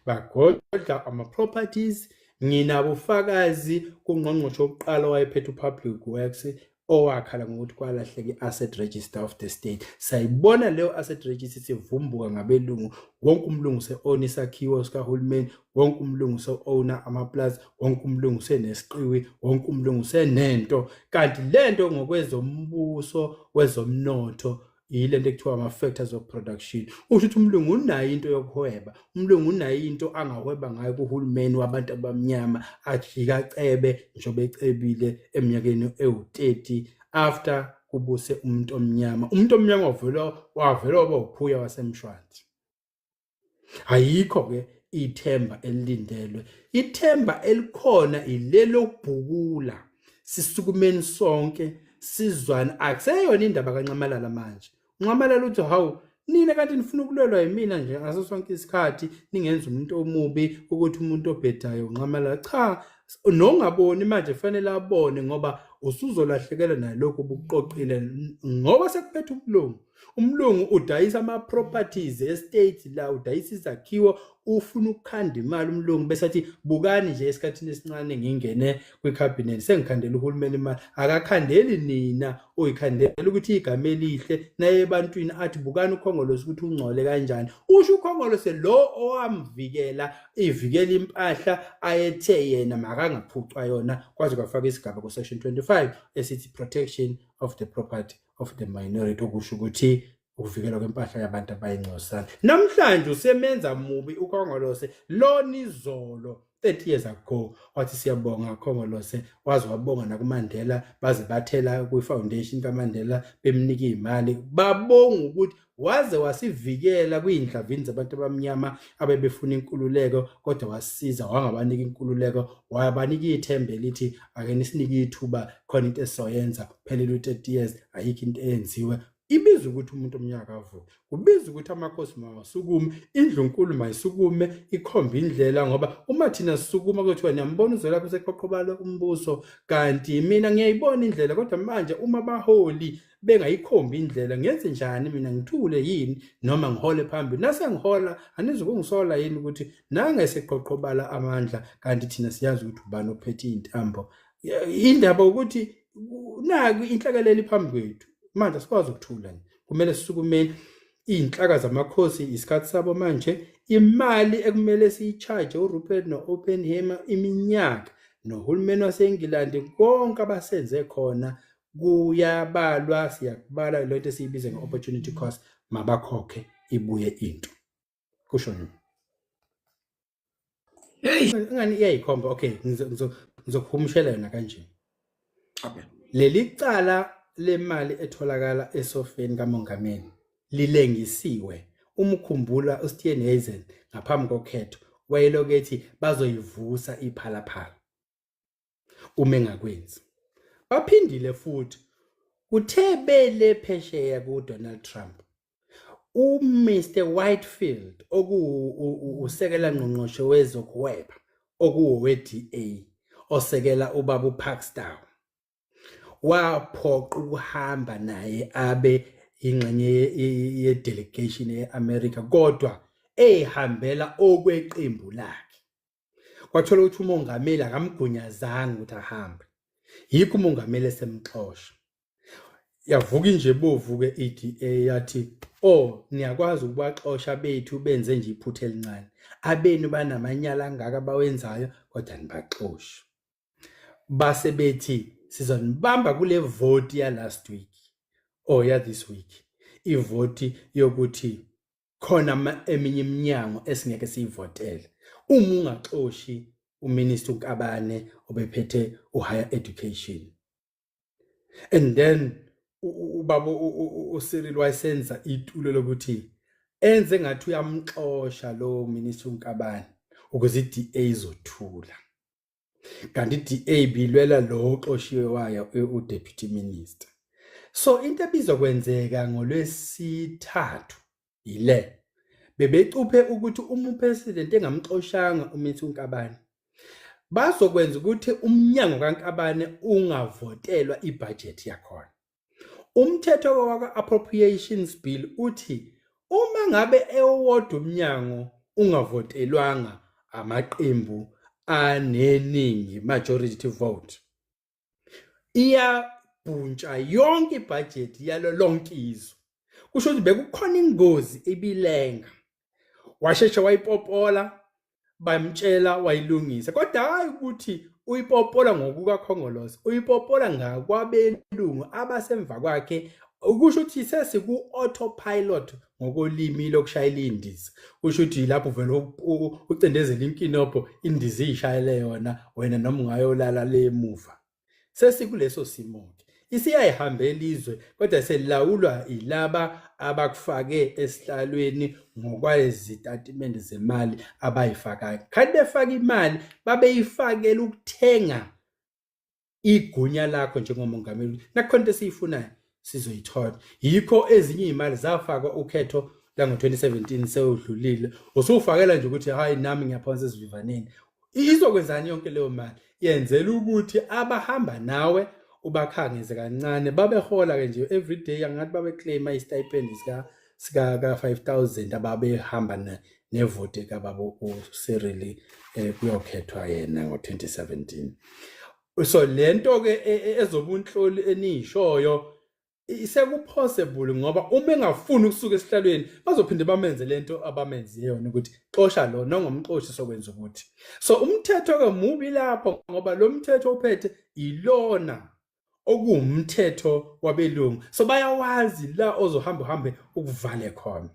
bagodla ama properties nginabufakazi kungqongqoshe oqala wayephethe upublic works owakhala ngokuthi kwalahleka i-asset register of the state sayibona leyo asset register sivumbuka ngabelungu wonke umlungu se-own isakhiwo sikahulumeni wonke umlungu se-owna amaplazi wonke umlungu senesiqiwi wonke umlungu senento kanti le nto ngokwezombuso wezomnotho yile nto ekuthiwa ama-factors of production usho ukuthi umlungu unayo into yokuhweba umlungu unayo into angahweba ngayo kuhulumeni wabantu abamnyama ajika cebe njengoba ecebile eminyakeni ewu-30 after kubuse umuntu omnyama umuntu omnyama wavela wavela waba wuphuya wasemshwanzi ayikho ke ithemba elilindelwe ithemba elikhona ilelo kubhukula sisukumeni sonke sizwana akuseyona indaba kanxamalala manje unxamalala uthi hawu nina kanti nifuna ukulwelwa yimina nje ngaso sonke isikhathi ningenza umuntu omubi ukuthi umuntu obhedayo unxamalala cha nongaboni manje fanele abone ngoba usuzolahlekelwa nalokho obukuqoqile ngoba sekuphetha ubulungu umlungu udayisa ama properties estate la udayisa izakhiwo ufuna ukukhanda imali umlungu bese athi bukani nje esikhathini esincane ngingene kwi cabinet sengikhandela uhulumeni imali akakhandeli nina oyikhandela ukuthi igama elihle naye ebantwini athi bukani ukhongolose ukuthi ungcole kanjani usho ukhongolose lo owamvikela ivikela impahla ayethe yena makangaphucwa yona kwaze kwafaka isigaba ku section 25 esithi protection of the property of the minority okusho ukuthi ukuvikelwa kwempahla yabantu abayingcosana namhlanje usemenza mubi ukhongolose lona izolo 30 years ago wathi siyabonga khongolose waze wabonga nakumandela baze bathela kwi-foundation kamandela bemnika iy'mali babonga ukuthi waze wasivikela kwiindlavini zabantu abamnyama abebefuna inkululeko kodwa wasiza wangabanika inkululeko wabanika ithemba elithi ake nisinike ithuba khona into esizoyenza phelele u-30 years ayikho into eyenziwe ibiza ukuthi umuntu omnyaka avuke kubiza ukuthi amakhosi mawasukume indlu nkulu mayisukume ikhomba indlela ngoba uma thina sisukuma kuthiwa niyambona uzwelapho useqhoqhobala umbuso kanti mina ngiyayibona indlela kodwa manje uma baholi bengayikhombi indlela ngenze njani mina ngithule yini noma ngihole phambili nase ngihola anizukungisola yini ukuthi nange seqoqobala amandla kanti thina siyazi ukuthi ubani ophethe intambo indaba ukuthi naku inhlakaleli phambi kwethu manje sikwazi ukuthula kumele sisukumeni iy'nhlaka zamakhosi isikhathi sabo manje imali ekumele siyi-charge urupert no-openhamer iminyaka nohulumeni wasengilandi konke abasenze khona kuyabalwa siyakubala le nto esiyibize nge-opportunity cost mabakhokhe ibuye into kusho nini hey ngani iyayikhomba okay ngizokuhumushela yona kanje okay leli cala lemali etholakala esofeni kamongameli lilengisiwe umkhumbula uSteven Hazen ngaphambi kokhetho wayelokethi bazoyivusa iphalaphala uma engakwenzi baphindile futhi kuthe bele phesheya kuDonald Trump uMr Whitefield okuwusekela ngqongqoshe wezokuhweba okuwowe-DA osekela ubaba uPaxton waphoqa ukuhamba naye abe ingxenye ye-delegation ye-America kodwa ehambela okweqembu lakhe kwathola ukuthi umongameli akamgunyazanga ukuthi ahambe yikho umongameli esemxosha yavuka inje bovu-ke i-da yathi o oh, niyakwazi ukubaxosha bethu benze nje iphutha elincane abenu banamanyala angaka bawenzayo kodwa nibaxoshe base bethi sizonibamba kule voti ya-last week or oh, ya-this week ivoti yokuthi khona eminye iminyango esingeke siyivotele uma ungaxoshi uminister uNkabane obephethe uhigher education and then ubaba uCyril wayesenza itulo lokuthi enze ngathi uyamxosha lo minister uNkabane ukuze iDA izothula kanti DA bilwela lo oxoshiwe wayo uDeputy Minister so into ebizokwenzeka ngolwesithathu yile bebecuphe ukuthi uma upresident engamxoshanga umithi unkabane bazokwenza ukuthi umnyango kankabane ungavotelwa ibhajethi yakhona Umthetho wakwa-Appropriations Bill uthi uma ngabe ewodwa umnyango ungavotelwanga amaqembu aneningi majority vote iyabhuntsha yonke ibhajethi yalo lonke izwe kusho ukuthi bekukhona ingozi ibilenga washeshe wayipopola bamtshela wayilungisa kodwa hayi ukuthi uyipopola ngokukakhongolose uyipopola ngakwabelungu abasemva kwakhe ukusho ukuthi sesiku-autopilot ngokolimi lokushayela indiza kusho ukuthi yilapho vele ucindezela inkinobho indiza iyishayele yona wena noma ungayolala le muva sesikuleso simo-ke isiyayihambela izwe kodwa selilawulwa yilaba abakufake esihlalweni ngokwezitatimende zemali abayifakayo khani befaka imali babeyifakela ukuthenga igunya lakho njengomongameli nakhona into esiyifunayo sizoyithola yikho ezinye izimali zafakwa ukhetho lango-2017 sewudlulile usufakela nje ukuthi hayi nami ngiyaphonsa esivivaneni izokwenzani yonke leyo mali yenzela ukuthi abahamba nawe ubakhangeze kancane babehola-ke nje every day angathi babeclaima istipend sika-five thousand ababehamba nevoti kababa usirili um eh, kuyokhethwa yena ngo-2017 so lento ke e, e, ezobunhloli eniyishoyo isekupossible ngoba uma engafuni ukusuka esihlalweni bazophinde bamenze lento abamenze yona ukuthi xosha lo nongomxoshi sokwenza ukuthi so umthetho ke mubi lapho ngoba lo mthetho uphethe ilona okuwumthetho wabelungu so bayawazi la ozohamba uhambe ukuvale khona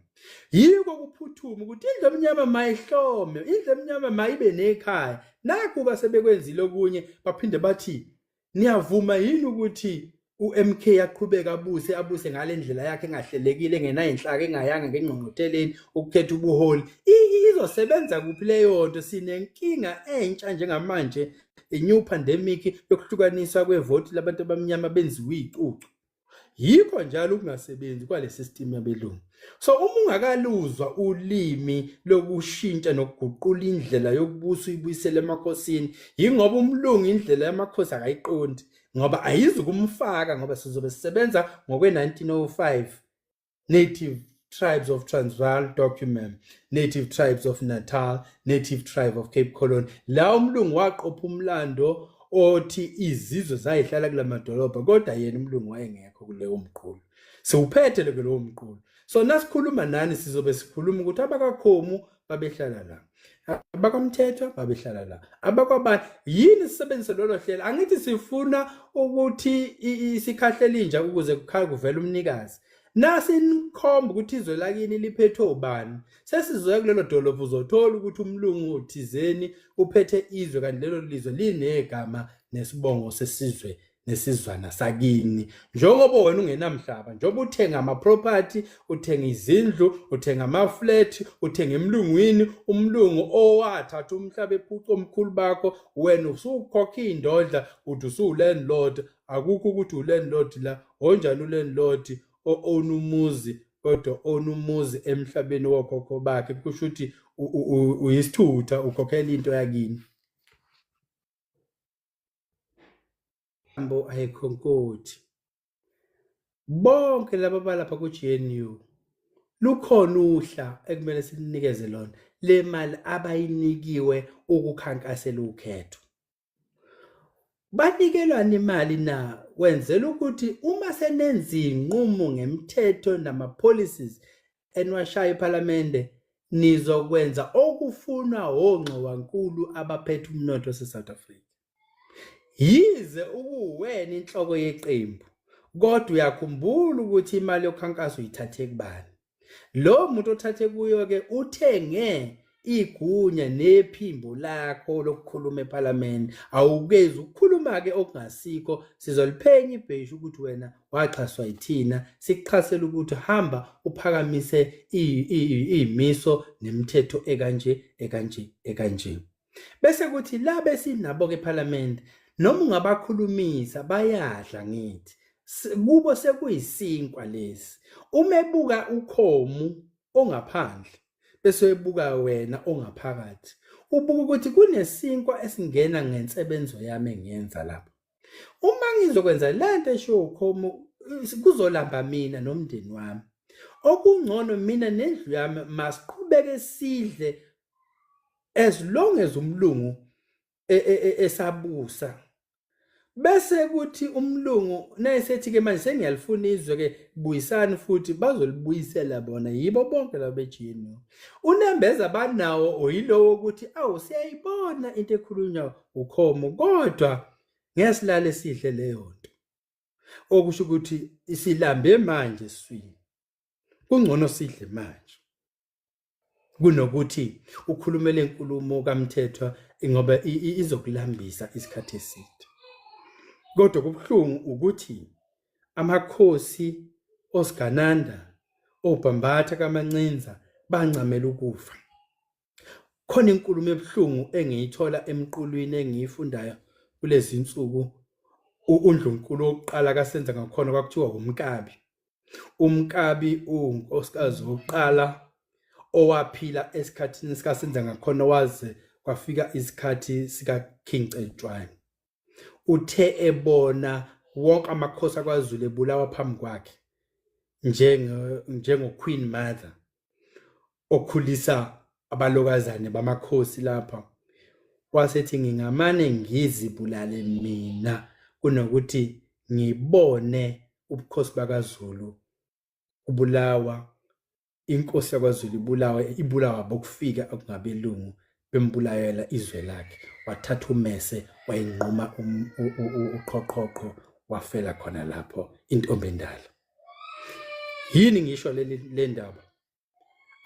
Yiko kuphuthuma ukuthi indlu emnyama mayihlome, indlu emnyama mayibe nekhaya. Nakhu-ke sebekwenzile okunye baphinde bathi niyavuma yini ukuthi uMK yaqhubeka abuse abuse ngale ndlela yakhe engahlelekile engenayo inhlaka engayanga ngengqongqotheleni ukukhetha ubuholi izosebenza kuphi leyo nto sinenkinga entsha njengamanje i-new pandemic yokuhlukaniswa kwevoti labantu abamnyama benziwe icucu yikho njalo ukungasebenzi kwale system yabelungu so uma ungakaluzwa ulimi lokushintsha nokuguqula indlela yokubusa uyibuyisele emakhosini yingoba umlungu indlela yamakhosi akayiqondi ngoba ayizi kumfaka ngoba sizobe sisebenza ngokwe-1905 native tribes of Transvaal document native tribes of Natal native tribe of Cape Colony la umlungu waqopha umlando othi izizwe zayihlala kula madolobha kodwa yena umlungu wayengekho kuleyo mqulu siwuphethe ke lowo mqulu so nasikhuluma nani sizobe sikhuluma ukuthi abakakhomu babehlala la abakwamthetho babehlala la abakwabani yini sisebenzise lolo hlelo angithi sifuna ukuthi isikhahlele inja ukuze kukhaya kuvela umnikazi nasinikhomba ukuthi izwe lakini liphethwe ubani sesizoya kulelo dolobha uzothola ukuthi umlungu thizeni uphethe izwe kanti lelo lizwe linegama nesibongo sesizwe nesizwana sakini njengoba wena ungenamhlaba njengoba uthenga ama-property uthenga izindlu uthenga ama-flat uthenga emlungwini umlungu owathatha umhlaba ephuca omkhulu bakho wena usukhokha iy'ndodla ukuthi usuwulandlord akukho ukuthi ulandlord la onjani ulandlord o-own umuzi kodwa ona umuzi emhlabeni wokhokho bakhe kusho ukuthi uyisithutha ukhokhela into yakini Mbo ayikho nkothi. Bonke laba balapha ku GNU lukhona uhla ekumele sinikeze lona le mali abayinikiwe ukukhankasela ukhetho. Banikelwana imali na kwenzela ukuthi uma senenza inqumo ngemthetho nama policies eniwashaya ephalamende nizokwenza okufunwa wongxowankulu abaphethe umnotho waseSouth Africa. Yize ukuwena inhloko yeqembu kodwa uyakhumbula ukuthi imali yokhankaso uyithathe kubani. Lo muntu othathe kuyo-ke uthenge igunya nephimbo lakho lokukhuluma ePhalamende awukezi ukukhuluma ke okungasikho sizoliphenya ibheshu ukuthi wena waxhaswa yithina sikuxhasela ukuthi hamba uphakamise imiso nemithetho ekanje ekanje ekanje bese kuthi la besinabo ke ePhalamende noma ungabakhulumisa bayadla ngithi kubo sekuyisinkwa lesi uma ebuka ukhomu ongaphandle bese uyibuka wena ongaphakathi ubuka ukuthi kunesinkwa esingena ngensebenzo yami engiyenza lapho uma ngizokwenza le nto eshiwo ukhomo kuzolamba mina nomndeni wami okungcono mina nendlu yami masiqhubeke sidle as long as umlungu e, e, e, esabusa bese kuthi umlungu nayesethi ke manje sengiyalifuna izwe ke buyisani futhi bazolibuyisela bona yibo bonke labo bejini unembeza banawo oyilowo ukuthi awu siyayibona into ekhulunywa ukhomo kodwa ngesilale sihle leyo nto okusho ukuthi isilambe manje swini kungcono sidle manje kunokuthi ukhulume lenkulumo kaMthethwa ngoba izokulambisa isikhathi eside kodwa kubuhlungu ukuthi amakhosi osigananda obhambatha kamancinza bancamela ukufa khona inkulumo ebuhlungu engiyithola emqulwini engiyifundayo kulezi nsuku undlunkulu wokuqala kasenza ngakhona kwakuthiwa umkabi umkabi unkosikazi wokuqala owaphila esikhathini sikasenza ngakhona waze kwafika isikhathi sikaking cetshwayo uthe ebona wonke amakhosi akwazulu ebulawa phambi kwakhe njengoqueen mother okhulisa abalokazane bamakhosi lapha wasethi ngingamane ngizibulale mina kunokuthi ngibone ubukhosi bakaZulu ubulawa inkosi yakwaZulu ibulawa ibulawa bokufika okungabelungu bembulayela izwe lakhe wathatha umese wayinquma um, uqhoqhoqho wafela khona lapho intombi endala yini ngisho le ndaba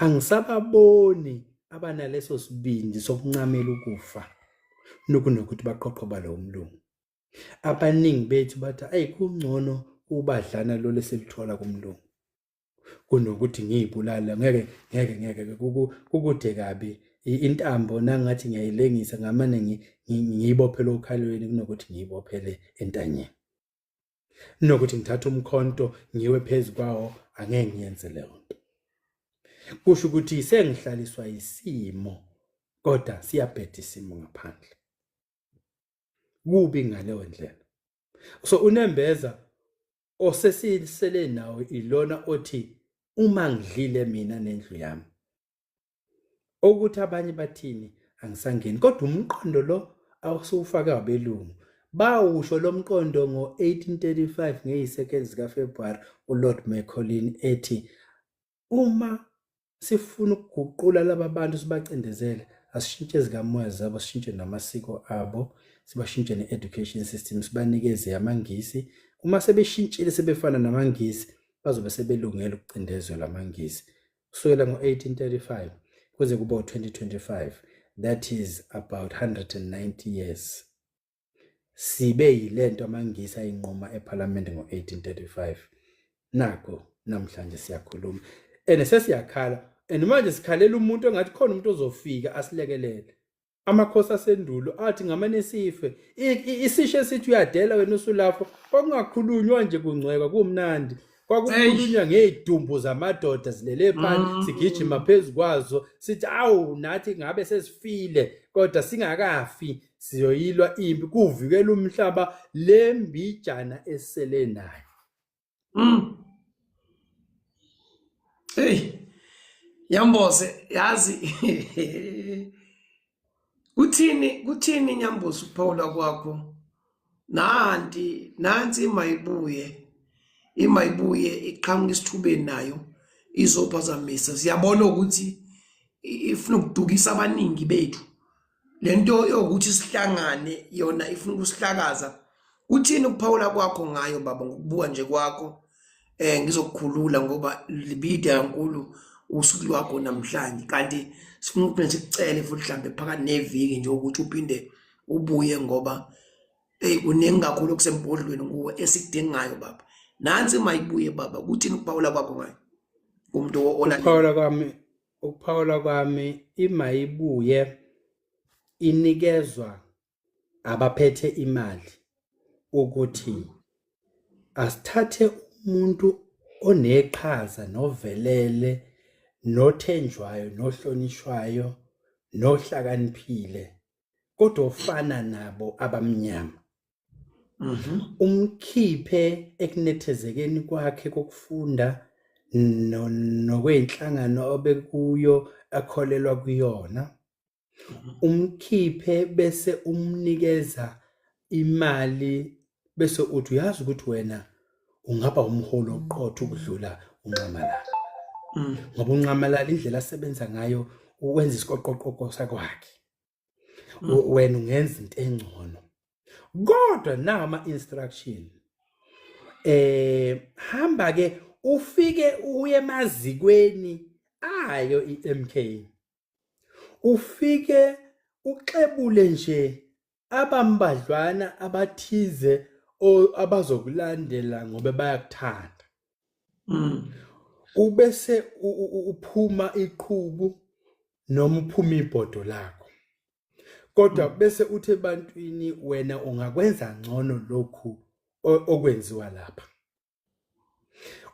angisababoni abanaleso sibindi sokuncamela ukufa nokunokuthi baqoqo balowo mlungu abaningi bethu bathi ayi kungcono ubadlana lo lesilithola kumlungu kunokuthi ngiyibulala ngeke ngeke ngeke kukude kabi intambo nangathi ngiyayilengisa ngamane ngiyibophe lokhalweni kunokuthi ngiyibophele entanyeni nokuthi ngithathe umkhonto ngiwe phezu kwawo angeke ngiyenze leyo nto kusho ukuthi sengihlaliswa isimo kodwa siyabheda isimo ngaphandle kubi ngaleyo ndlela so unembeza osesisele nawo ilona othi uma ngidlile mina nendlu yami ukuthi abanye bathini angisangeni kodwa umqondo lo awusuwufake wabelungu bawusho lo mqondo ngo-1835 ngeyi-2nd zikafebruwari ulord mccolin ethi uma sifuna ukuguqula laba bantu sibacindezele asishintshe ezikamoya zabo sishintshe namasiko abo sibashintshe ne-education system sibanikeze amangisi uma sebeshintshile sebefana namangisi bazobe sebelungele ukucindezelwa amangisi kusukela ngo-1835 kuze kuba u-2025 that is about 190 years sibe yilento amangisi ayinquma eParliament ngo1835 nako namhlanje siyakhuluma and sesiyakhala and manje sikhalela umuntu engathi khona umuntu ozofika asilekelele amakhosi asendulo athi ngamane sife isisho esithi uyadela wena usulapho kwakungakhulunywa nje kungcweka kumnandi kwakukhulunywa ngey'dumbu zamadoda zilele phansi mm. sigijima phezu kwazo sithi awu nathi ngabe sesifile kodwa singakafi siyoyilwa impi kuvikela umhlaba le mbijana esele nayo mm. hey Nyambose yazi kuthini kuthini Nyambose ukuphawula kwakho nanti nansi imayibuye imayibuye iqhamuka isithubeni nayo izophazamisa siyabona ukuthi ifuna ukudukisa abaningi bethu lento yokuthi sihlangane yona ifuna ukusihlakaza uthini ukuphawula kwakho ngayo baba ngokubuka nje kwakho eh ngizokukhulula ngoba libide kankulu usuku lwakho namhlanje kanti sifuna ukuthi sikucele futhi mhlambe phakathi neviki nje ukuthi uphinde ubuye ngoba hey kuningi kakhulu okusembodlweni kuwe esikudingayo baba nansi mayibuye baba kuthini ukuphawula kwakho ngayo umuntu olandela ukuphawula kwami ukuphawula kwami imayibuye inikezwa abaphethe imali ukuthi asithathe umuntu oneqhaza novelele nothenjwayo nohlonishwayo nohlakaniphile kodwa ofana nabo abamnyama Mhm. umkhiphe ekunethezekeni kwakhe kokufunda no- nokweyinhlangano obekuyo akholelwa kuyona mhm. umkhiphe bese umnikeza imali bese uthi uyazi ukuthi wena ungaba umholi oqotho ukudlula unxamalala mm. ngoba unxamalala indlela asebenza ngayo ukwenza isiqoqoqoqo sakwakhe Mm. U- wena ungenza into engcono kodwa nawo ama instruction eh hamba ke ufike uye emazikweni ayo iMK ufike uxebule nje abambadlwana abathize o- abazokulandela ngoba bayakuthanda Mm. Ubese uphuma iqhubu noma uphuma ibhodo lakho. Kodwa mm. bese uthi ebantwini wena ungakwenza ngcono lokhu okwenziwa lapha.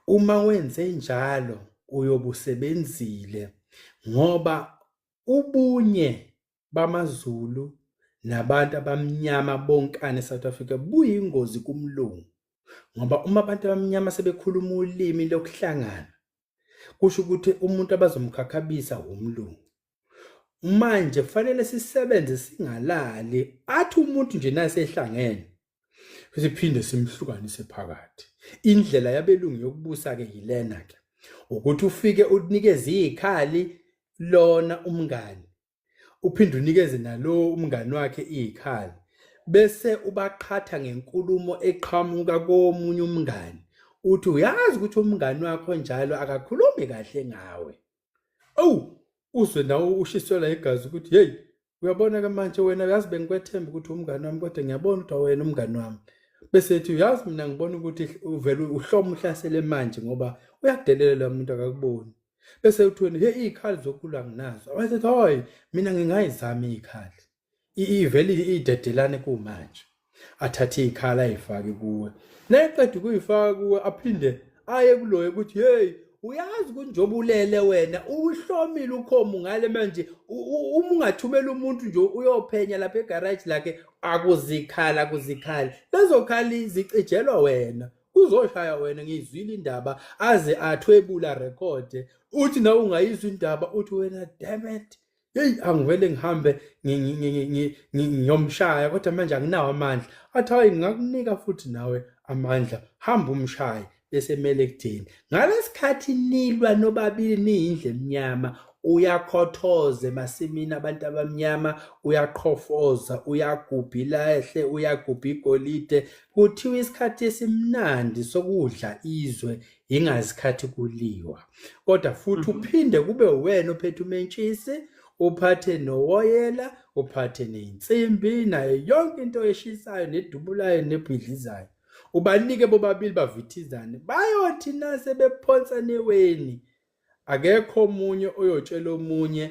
Uma wenze njalo uyobusebenzile ngoba ubunye bamaZulu nabantu abamnyama bonkane South Africa buyingozi kumlungu ngoba uma abantu abamnyama sebekhuluma ulimi lokuhlangana kusho ukuthi umuntu abazomkhakhabisa wumlungu manje kufanele sisebenze singalali athi umuntu nje nasehlangene siphinde simhlukanise phakathi indlela yabelungu yokubusa ke yilena ke ukuthi ufike unikeze izikhali lona umngani uphinde unikeze nalo umngani wakhe izikhali bese ubaqhatha ngenkulumo eqhamuka komunye umngani uthi uyazi ukuthi umngani wakho njalo akakhulumi kahle ngawe awu uzwe nawe ushiselwa igazi ukuthi hey uyabona ke manje wena uyazi bengikwethemba ukuthi umngani wami kodwa ngiyabona ukuthi awena umngani wami bese ethi uyazi mina ngibona ukuthi uvele uhloma uhlasele manje ngoba uyadelela lo muntu akakuboni bese uthweni he izikhali zokulwa nginazo wayethi hoy mina ngingayizami izikhali ivelile idedelane kumanje athathe ikhala ayifake kuwe nayeqeda ukuyifaka kuwe aphinde aye kuloyo ukuthi hey uyazi kunjoba ulele wena uhlomile ukhomu ngale manje uma ungathumela umuntu nje uyophenya lapha egarage lakhe akuzikhala kuzikhala lezokhali zicijelwa wena kuzoshaya wena ngiyizwile indaba aze athwebula record uthi nawe ungayizwa indaba uthi wena damn it heyi angivele ngihambe ngiyomshaya kodwa manje anginawo amandla athi hayi ngingakunika futhi nawe amandla hamba umshaye besemele ekutheni ngalesikhathi nilwa nobabili niyindle emnyama uyakhothoza emasimini abantu abamnyama uyaqhofoza uyagubha ilahle uyagubha igolide kuthiwa isikhathi esimnandi sokudla izwe yingazikhathi kuliwa kodwa futhi mhm. uphinde kube uwena ophethe umentshisi uphathe nowoyela uphathe neyinsimbi nayo yonke into eshisayo nedubulayo nebhidlizayo ubanike bobabili bavithizane bayothi nase bephonsa neweni Akekho omunye oyotshela omunye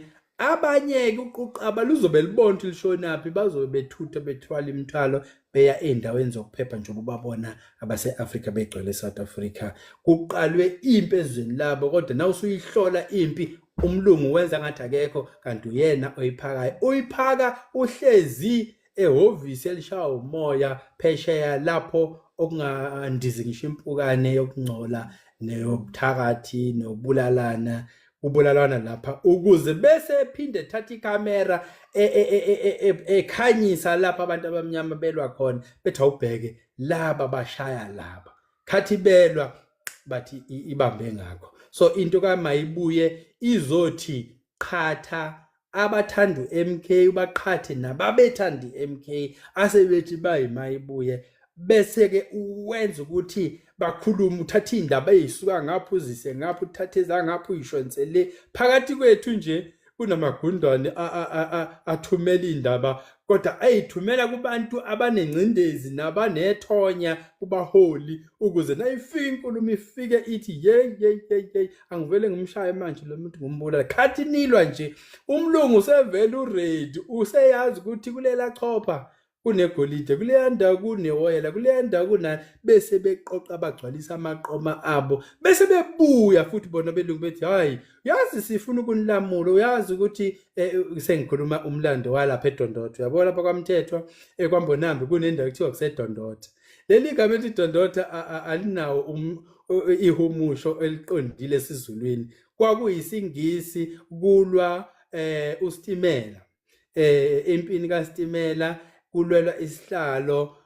abanyeke uquqaba luzobe libona ukuthi lishonaphi bazobe bethutha bethwala imithwalo beya ezindaweni zokuphepha njengoba ubabona abase-afrika begcwele e-south africa kuqalwe impi ezweni labo kodwa na usuyihlola impi umlungu wenza ngathi akekho kanti uyena oyiphakayo uyiphaka uhlezi ehhovisi elishaya umoya phesheya lapho okungandizi ngisho impukane yokungcola neyobuthakathi nokubulalana kubulalwana lapha ukuze bese ephinde ethatha ikamera e, e, e, ekhanyisa lapha abantu abamnyama belwa khona bethi awubheke laba bashaya laba khathi belwa bathi ibambe ngakho so into kamayibuye izothi qhatha abathanda uMK ubaqhathe nababethanda iMK asebethi bayimayibuye bese ke uwenza ukuthi bakhulume uthatha indaba ezisuka ngapha uzise ngapha uthatha ezangapha uyishonse le phakathi kwethu nje kunamagundwane athumela indaba kodwa ayithumela kubantu abanengcindezi nabanethonya kubaholi ukuze nayifika inkulumo ifike ithi yey yey yey yey angivele ngimshaye manje lo muntu ngombulala khathi nilwa nje umlungu usevele uready useyazi ukuthi kulela chopha kunegolide kuleya ndawo kunewoyela kuleya ndawo kunani bese beqoqa bagcwalisa amaqoma abo bese bebuya futhi bona belungu bethi hhayi uyazi sifuna ukunilamula uyazi ukuthi um sengikhuluma umlando walapha edondotho uyabona lapha kwamthethwa um eh, kwambonambi kunendawo kuthiwa kusedondotho leli gama ethi dondotha alinawo um, ihumusho eliqondile esizulwini kwakuyisingisi kulwa eh uStimela eh impini kaStimela kulwelwa isihlalo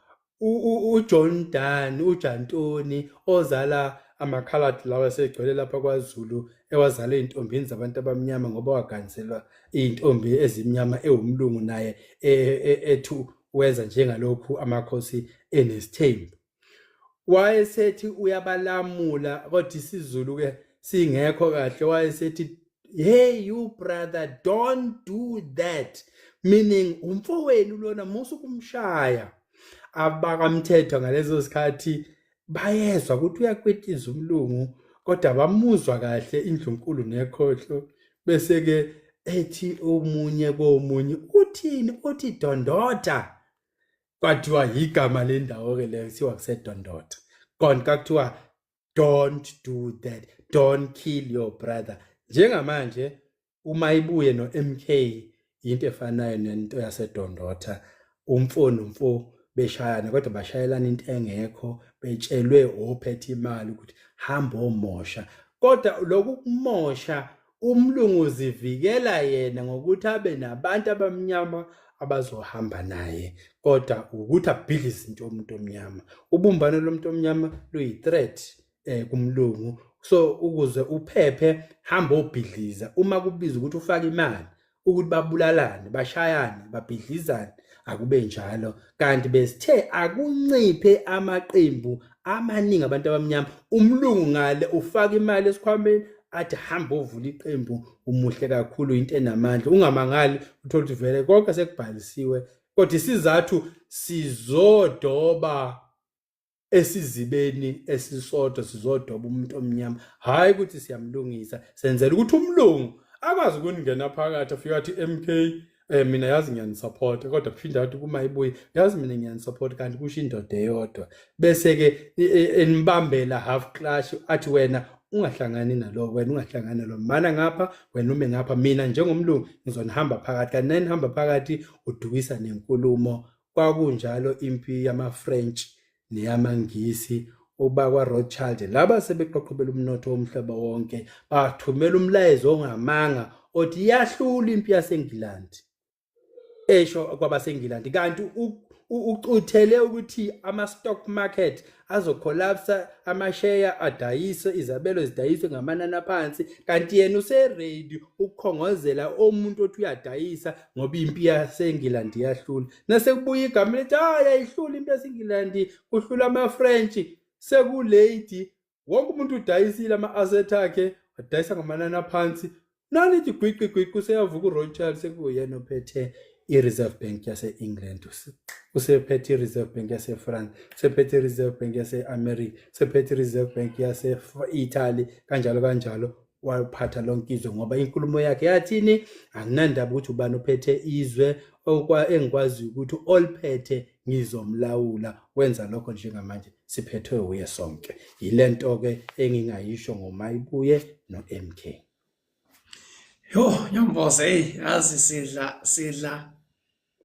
uJohn Dan uJantoni ozala amakhalad lawa segcwele lapha kwaZulu ewazala ezintombini zabantu abamnyama ngoba waganiselwa izintombi ezimnyama ewumlungu naye e, e, ethu Weza njengalokhu amakhosi enesithembu. Wayesethi uyabalamula kodwa isiZulu ke singekho kahle wayesethi hey you brother don't do that meaning umfowenu lona musa ukumshaya abakamthetho ngalezo sikhathi bayezwa ukuthi uyakwetiza umlungu kodwa bamuzwa kahle indlunkulu nekhohlo bese-ke ethi omunye komunye uthini uthi dondota kwathiwa yigama lendawo-ke leyo kuthiwa kusedondota konka kuthiwa don't do that don't kill your brother njengamanje uma ibuye no MK into efanayo nento yasedondotha umfo nomfo beshayana kodwa bashayelana into engekho betshelwe ophethe imali ukuthi hamba omosha kodwa lokhu kumosha umlungu uzivikela yena ngokuthi abe nabantu abamnyama abazohamba naye kodwa ukuthi abhidle izinto omuntu omnyama ubumbano lomuntu omnyama luyi-threat eh kumlungu so ukuze uphephe hamba obhidliza uma kubiza ukuthi ufake imali ukuthi babulalane bashayane babhidlizane akube njalo kanti besithe akunciphe amaqembu amaningi abantu abamnyama umlungu ngale ufaka imali esikhwameni athi hamba ovula iqembu umuhle kakhulu into enamandla ungamangali uthola ukuthi vele konke sekubhalisiwe kodwa isizathu sizodoba esizibeni esisodwa sizodoba umuntu omnyama hhayi ukuthi siyamlungisa senzela ukuthi umlungu akwazi ukuningena phakathi afika athi MK eh mina yazi ngiyanisupport kodwa kuphinde athi kuma ibuye yazi mina ngiyanisupport kanti kusho indoda eyodwa bese ke e, e, enibambela half clash athi wena ungahlangani nalo wena ungahlangani nalo mana ngapha wena ume ngapha mina njengomlungu ngizonihamba phakathi kanti nanihamba phakathi udukisa nenkulumo kwakunjalo impi yamaFrench neyamaNgisi obakwaRothschild laba sebeqoqobela umnotho womhlaba wonke bathumela umlayezo ongamanga othi yahlula impi yaseNgilandi esho kwabaseNgilandi kanti ucuthele ukuthi ama-stock market azocollapsa amasheya adayiswe izabelo zidayiswe ngamanani aphansi kanti yena useredi ukukhongozela omuntu othi uyadayisa ngoba impi yasengilandi iyahlula nasekubuya igama lithi hayi ayihluli impi yasengilandi kuhlula amafrench sekulady wonke umuntu udayisile ama-aset akhe wadayisa ngamanani aphansi nanithi gwiqi gwiqi useyavuka uroy child sekuyena ophethe i-reserve bank yase-england usephethe i-reserve bank yase-france usephethe i-reserve bank yase-america usephethe i-reserve bank yase-italy kanjalo kanjalo waphatha lonke izwe ngoba inkulumo yakhe yathini anginandaba ukuthi ubani ophethe izwe engikwaziyo ukuthi oliphethe ngizomlawula wenza lokho njengamanje siphethwe wuye sonke yile nto-ke engingayisho ngomayibuye no-m k Yho, yamboze hey yazi sidla sidla